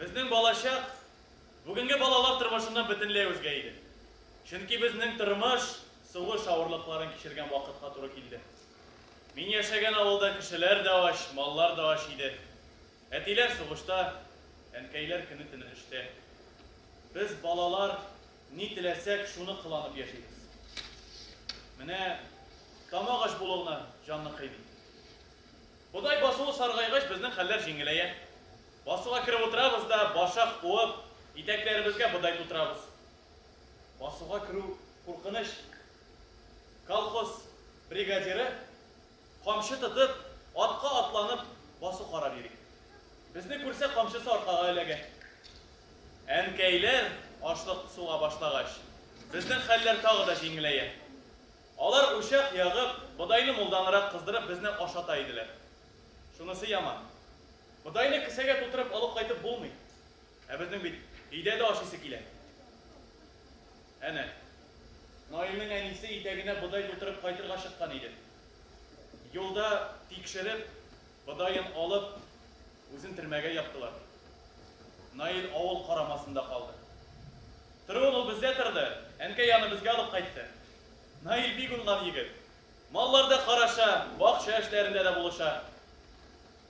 Безнең балачак бүгенге балалар тормышыннан бөтенләй үзгә иде. Чөнки безнең тормыш сулыш авырлыкларын кичергән вакытка туры килде. Мин яшәгән авылда кешеләр дә ач, маллар да ач иде. Әтиләр сугышта, әнкәйләр көне-төне эштә. Без, балалар, ни теләсәк, шуны кыланып яшибез. Менә тамак ач булу гына җанны кыйный. Бодай басуы саргайгач, безнең хәлләр җиңеләя. Басуга кереп утырабыз да, башак куып, итәкләребезгә бодай тутырабыз. Басуга керү куркыныч, Колхоз бригадиры, камчы тотып, атка атланып басу карар йөри. Безне күрсә, камчысы аркага эләгә. Әнкәйләр ашлык суга башлагач, безнең хәлләр тагы да җиңеләя. Алар учак ягып, бодайны мулданрак кыздырып безне ашата иделәр. Шунысы яман, бодайны кесәгә тутырып алып кайтып булмый. Ә безнең бит өйдә дә ашыйсы килә. Әнә, Наилнең әнисе итәгенә бодай тутырып кайтырга чыккан иде. Юлда тикшереп, бодаен алып, үзен төрмәгә яптылар. Наил авыл карамасында калды. Торуын ул бездә торды, әнкәй аны безгә алып кайтты. Наил бик уңган егет. Малларда караша, бакча эшләрендә дә булыша.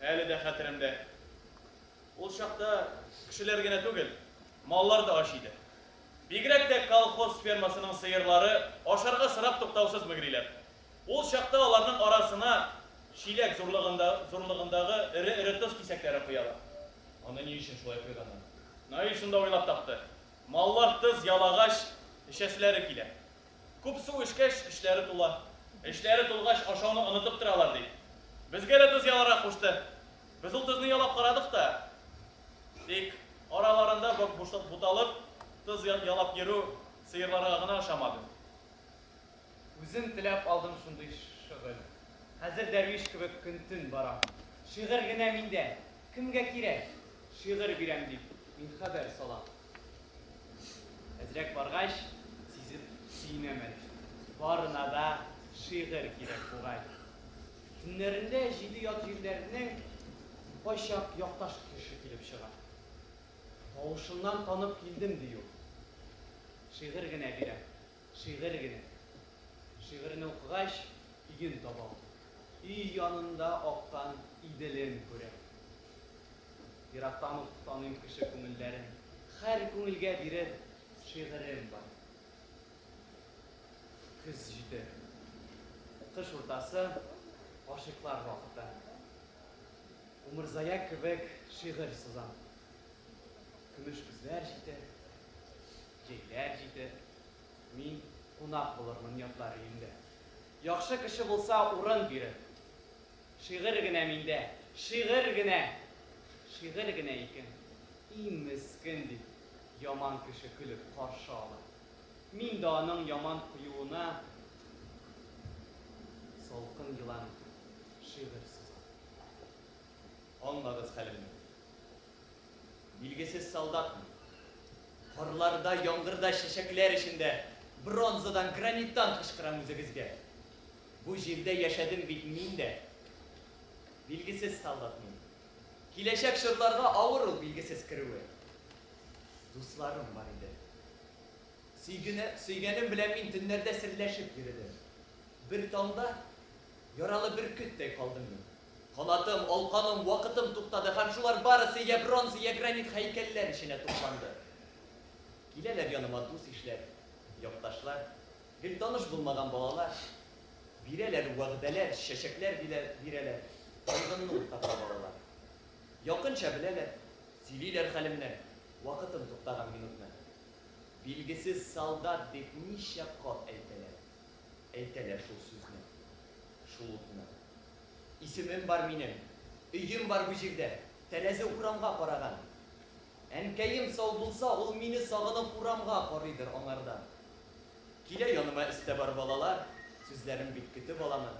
Әле дә хәтеремдә. Ул чакта кешеләр генә түгел, маллар да ач иде. Бигрәк тә колхоз фермасының сыерлары ашарга сорап туктаусыз мөгриләр. Ул чакта аларның арасына чиләк зурлыгындагы эре-эре тоз кисәкләре коялар. Аны ни өчен шулай койганнар? Наил шунда уйлап тапты. Маллар тоз ялагач, эчәселәре килә. Күп су эчкәч, эчләре тула. Эчләре тулгач, ашауны онытып торалар, ди. Безгә дә тоз яларга кушты. Без ул тозны ялап карадык та. Тик араларында буталып, тоз ялап йөрү сыерларга гына ошамады. Үзем теләп алдым шундый шөгыль. Хәзер дәрвиш кебек көн-төн барам. Шигырь генә миндә, кемгә кирәк? Шигырь бирәм дип, мин хәбәр салам. Әзрәк баргач, сизеп сөенәмен. Барына да шигырь кирәк бугай. Төннәрендә җиде ят җирләрнең кайчак якташ кеше килеп чыга. Тавышыннан танып килдем, ди ул. Шигырь генә бирәм. Шигырь генә. Шигырьне укыгач, өен табам. Өй янында аккан Иделен күрәм. Ерактан ук таныйм кеше күңелләрен. Хәр күңелгә бирер шигырем бар. Көз җитеп. Кыш уртасы, гашыйклар вакыты. Умырзая кебек шигырь сызам. Көмеш көзләр җитеп. Җәйләр җитеп, мин кунак булырмын ятлар өендә. Яхшы кеше булса, урын бирер. Шигырь генә миндә, шигырь генә! Шигырь генә икән, и мескен! дип, яман кеше көлеп каршы ала. Мин дә аның яман куюына салкын елан итеп шигырь сызам. Аңлагыз хәлемне. Билгесез солдатмы? Карларда, яңгырда, чәчәкләр эчендә бронзадан, граниттан кычкырам үзегезгә. Бу җирдә яшәдем бит мин дә. Билгесез солдат мин. Киләчәк чорларга авыр ул билгесез керүе. Дусларым бар иде. Сөйгене, сөйгәнем белән мин төннәрдә серләшеп йөредем. Бер таңда яралы бөркеттәй калдым мин. Канатым, алканым, вакытым туктады һәм шулар барысы йә бронза, йә гранит һәйкәлләр эченә тупланды. Киләләр яныма дус-ишләр, якташлар, гел таныш булмаган балалар. Бирәләр вәгъдәләр, чәчәкләр бирәләр, кайгымны уртаклап алалар. Якынча беләләр, сөйлиләр хәлемне, вакытым туктаган минутны. Билгесез солдат дип ничә кат әйтәләр, әйтәләр шул сүзне, шул утны. Исемем бар минем, өем бар бу җирдә, тәрәзе урамга караган. Әнкәем сау булса, ул мине сагынып урамга карыйдыр аңардан. Килә яныма өстә бар балалар, сүзләрем бит көтеп аламы.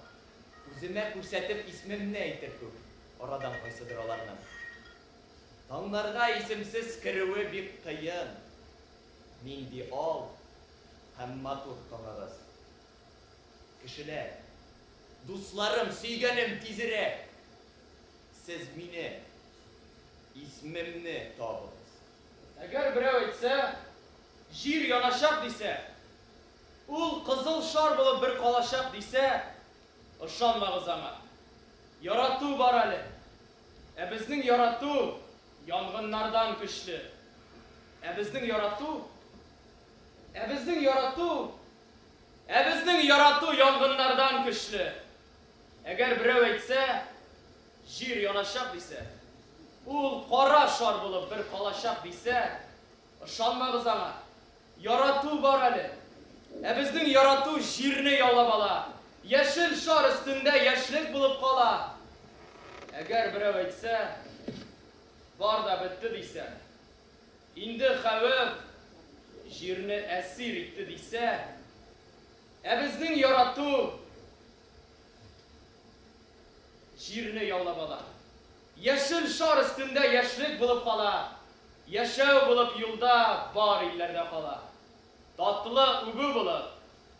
Үземә күрсәтеп исмемне әйтер күк арадан кайсыдыр аларның. Таңнарга исемсез керүе бик кыен. Нинди ал һәм матур таңыгыз. Кешеләр, дусларым, сөйгәнем, тизрәк сез мине, исмемне табыгыз. Әгәр берәү әйтсә, җир яначак дисә, ул кызыл шар булып бер калачак дисә, ышанмагыз аңа. Ярату бар әле. Ә безнең ярату янгыннардан көчле. Ә безнең ярату, ә безнең ярату Ә безнең ярату янгыннардан көчле. Әгәр берәү әйтсә, Җир яначак дисә, ул кара шар булып бер калачак дисә, ышанмагыз аңа. Ярату бар әле. Ә безнең ярату Җирне яулап ала, яшел шар өстендә яшьлек булып кала. Әгәр берәү әйтсә, Бар да бетте дисә, Инде хәвеф җирне әсир итте дисә, ә безнең ярату җирне яулап ала. Яшел шар өстендә яшьлек булып кала, яшәү булып юлда бар илләрдә кала. Татлы үбү булып,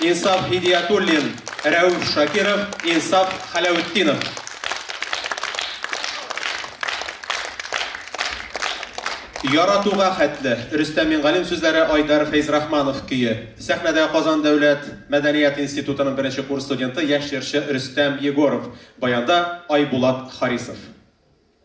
Инсаф Һидиятуллин, Рәүф Шакиров, Инсаф Хәләүтдинов. Яратуга хәтле, Рөстәм Мингалим сүзләре, Айдар Фәйзрахманов көе. Сәхнәдә Казан дәүләт мәдәният институтының беренче курс студенты, яшь җырчы Рөстәм Егоров, баянда Айбулат Харисов.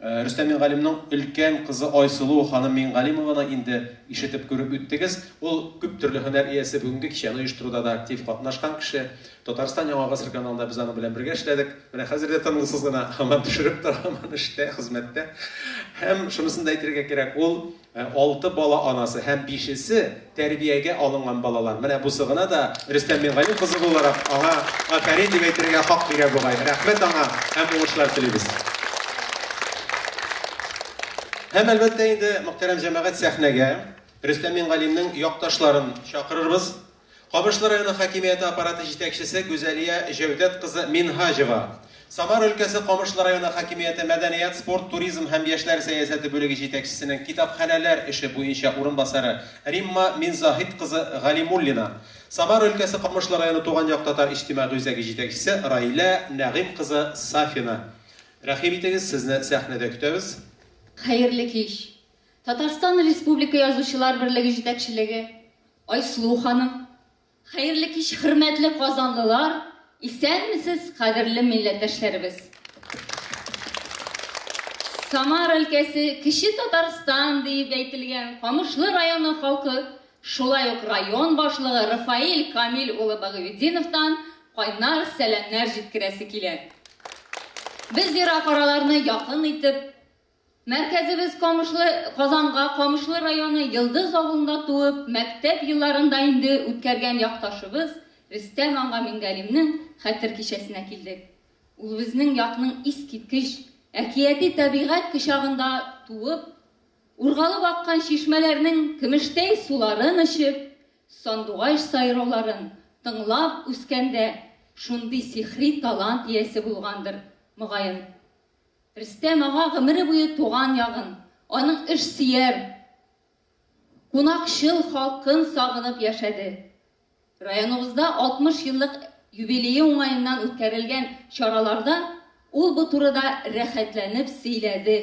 Рөстәм Мингалимның өлкән кызы Айсылу ханым Мингалимованы инде ишетеп, күреп үттегез. Ул, күп төрле һөнәр иясе, бүгенге кичәне оештыруда да актив катнашкан кеше. Татарстан Яңа гасыр каналында без аның белән бергә эшләдек. Менә хәзер дә тынгысыз гына һаман төшереп тора, һаман эштә, хезмәттә. Һәм шунысын да әйтергә кирәк, ул Ә алты бала анасы һәм бишесе тәрбиягә алынган балалар. Менә бусы гына да Рөстәм Мингалим кызы буларак, аңа афәрин дип әйтергә хак бирә бугай. Рәхмәт аңа һәм уңышлар телибез. Һәм, әлбәттә инде, мөхтәрәм җәмәгать, сәхнәгә Рөстәм Мингалимнең якташларын чакырырбыз. Камышлы районы хакимияте аппараты җитәкчесе Гүзәлия Җәүдәт кызы Минһаҗева, Самар өлкәсе Камышлы районы хакимияте мәдәният, спорт, туризм һәм яшьләр сәясәте бүлеге җитәкчесенең китапханәләр эше буенча урынбасары Римма Минзаһит кызы Галимуллина, Самар өлкәсе Камышлы районы Туган як татар иҗтимагый үзәге җитәкчесе Раилә Нәгыйм кызы Сафина. Рәхим итегез, сезне сәхнәдә көтәбез. Хәерле кич! Татарстан Республика Язучылар берлеге җитәкчелеге, Айсылу ханым. Хәерле кич, хөрмәтле казанлылар! Исәнмесез, кадерле милләттәшләребез! Самар өлкәсе, Кече Татарстан диеп әйтелгән Камышлы районы халкы шулай ук район башлыгы Рафаэль Камил улы Багыветдиновтан кайнар сәламнәр җиткерәсе килә. Без ерак араларны якын итеп, Мәркәзебез Камышлы, Казанга Камышлы районы Йылдыз авылында туып, мәктәп елларын да инде үткәргән якташыбыз Рөстәм ага Мингалимнең хәтер кичәсенә килдек. Ул безнең якның искиткеч, әкияти табигать кочагында туып, ургалып аккан чишмәләрнең көмештәй суларын эчеп, сандугач сайрауларын тыңлап үскәндә шундый сихри талант иясе булгандыр, мөгаен. Рөстәм ага гомере буе туган ягын, аның эшсөяр, кунакчыл халкын сагынып яшәде. Районыбызда 60 еллык юбилее уңаеннан үткәрелгән чараларда ул бу турыда рәхәтләнеп сөйләде,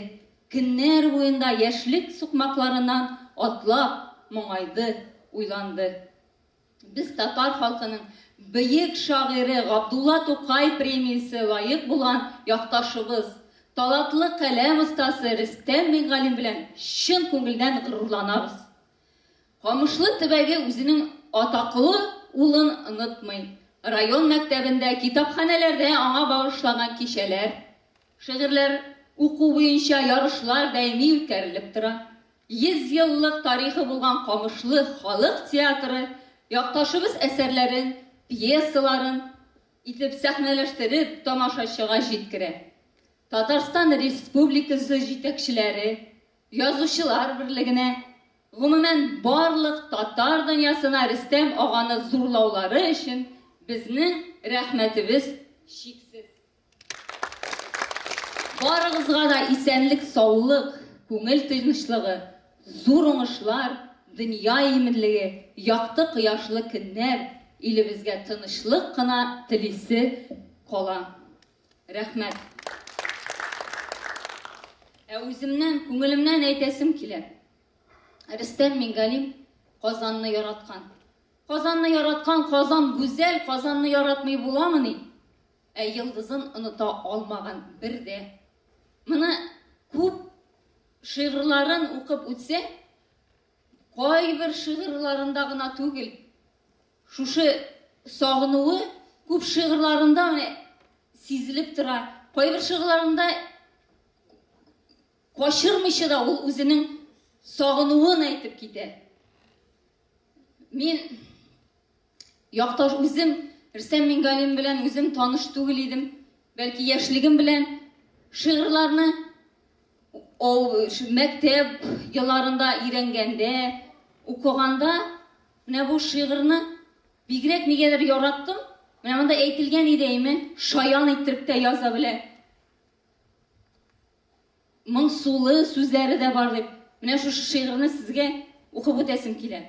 көннәр буенда яшьлек сукмакларыннан атлап, моңайды, уйланды. Без татар халкының бөек шагыйре Габдулла Тукай премиясе лаек булган якташыбыз, талатлы каләм остасы Рөстәм Миңгалим белән чын күңелдән горурланабыз. Камышлы төбәге үзенең атаклы улын онытмый, район мәктәбендә, китапханәләрдә аңа багышлаган кичәләр, Шигырьләр уку буенча ярышлар даими үткәрелеп тора. Йөз еллык тарихы булган Камышлы халык театры якташыбыз әсәрләрен, пьесаларын итеп сәхнәләштереп, тамашачыга җиткерә. Татарстан Республикасы җитәкчеләре, Язучылар берлегенә, гомумән, барлык татар дөньясына Рөстәм аганы зурлаулары өчен безнең рәхмәтебез чиксез. Барыгызга да исәнлек, саулык, күңел тынычлыгы, зур уңышлар, дөнья иминлеге, якты кояшлы көннәр, илебезгә тынычлык кына телисе кала. Рәхмәт. Ә үземнән, күңелемнән әйтәсем килә. Рөстәм Мингалим Казанны яраткан. Казанны яраткан, Казан гүзәл, Казанны яратмый буламыни? Ә йылдызын оныта алмаган бер дә. Моны күп шигырьләрен укып үтсә, кайбер шигырьләрендә гына түгел, шушы сагынуы күп шигырьләрендә сизелеп тора. Кайбер шигырьләрендә качырмыйча да ул үзенең сагынуын әйтеп китә. Мин якташ үзем Рөстәм Мингалим белән үзем таныш түгел идем. Бәлки яшьлегем белән шигырьләрне мәктәп елларында өйрәнгәндә, укыганда менә бу шигырьне бигрәк нигәдер яраттым. Менә монда әйтелгән иде әйме, шаян иттереп тә яза белә. Моңсулы сүзләре дә бар дип, менә шушы шигырьне сезгә укып үтәсем килә.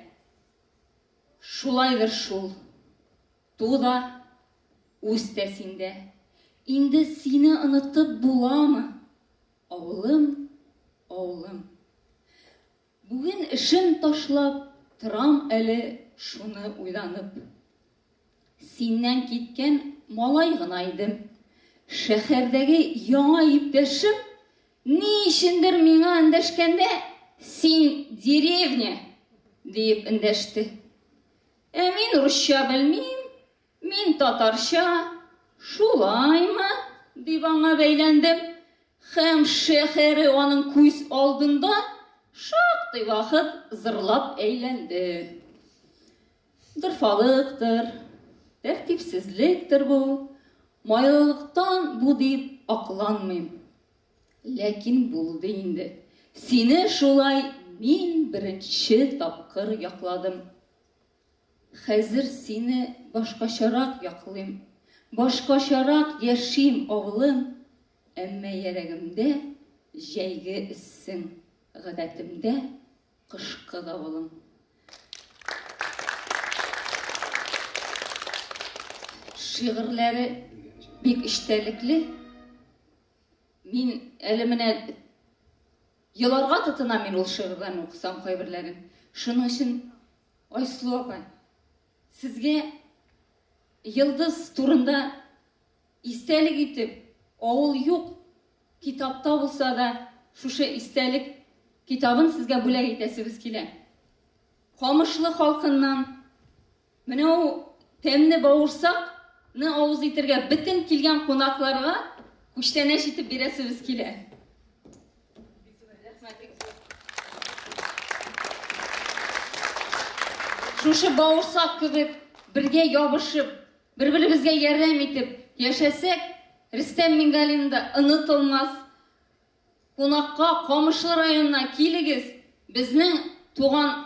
Шулайдыр шул. Ту да, үс тә синдә. Инде сине онытып буламы? Авылым, авылым. Бүген эшен ташлап торам әле шуны уйланып. Синнән киткән малай гына идем. Шәһәрдәге яңа иптәшем ни өчендер миңа эндәшкәндә син деревня диеп эндәште. Ә мин русча белмим, Мин татарча, Шулаймы? дип аңа бәйләндем һәм шәһәре аның күз алдында шактый вакыт зырлап әйләнде. Дырфалыктыр, тәртипсезлектер бу, майлылыктан бу дип акланмыйм. Ләкин булды инде. Сине шулай мин беренче тапкыр якладым. Хәзер сине башкачарак яклыйм, Башкачарак яшим, авылым, Әмма йәрәгемдә җәйге эссең, Гадәтемдә кышкы давылың. Шигырьләре бик эчтәлекле. Мин әле менә еларга тотынам мин ул шигырьләрне укысам кайберләрен. Шуның өчен Айсылу апа, сезгә Йылдыз турында истәлек итеп, авыл юк, китапта булса да шушы истәлек китабын сезгә бүләк итәсебез килә. Камышлы халкыннан менә ул тәмне бавырсакны авыз итергә бөтен килгән кунакларга күчтәнәч итеп бирәсебез килә. Шушы бауырсак кебек бергә ябышып, бер-беребезгә ярдәм итеп яшәсәк, Рөстәм Мингалин да онытылмас. Кунакка Камышлы районына килегез, безнең туган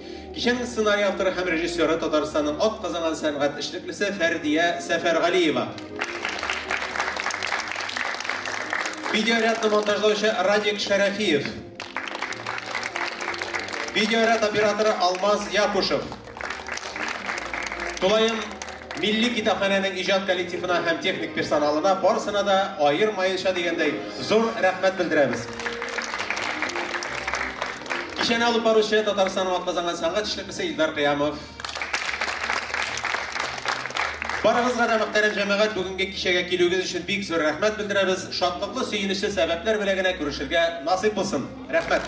Кичәнең сценарий авторы һәм режиссеры Татарстанның атказанган сәнгать эшлеклесе Фәрдия Сәфәргалиева. Видеорядны монтажлаучы Радик Шәрәфиев. Видеоряд операторы Алмаз Якушев. Тулаем Милли китапханәнең иҗат коллективына һәм техник персоналына, барысына да аермаенча дигәндәй, зур рәхмәт белдерәбез. Кичәне алып баручы Татарстанның атказанган сәнгать эшлеклесе Илдар Кыямов. Барыгызга да, мөхтәрәм җәмәгать, бүгенге кичәгә килүегез өчен бик зур рәхмәт белдерәбез. Шатлыклы, сөенечле сәбәпләр белән генә күрешергә насыйп булсын. Рәхмәт.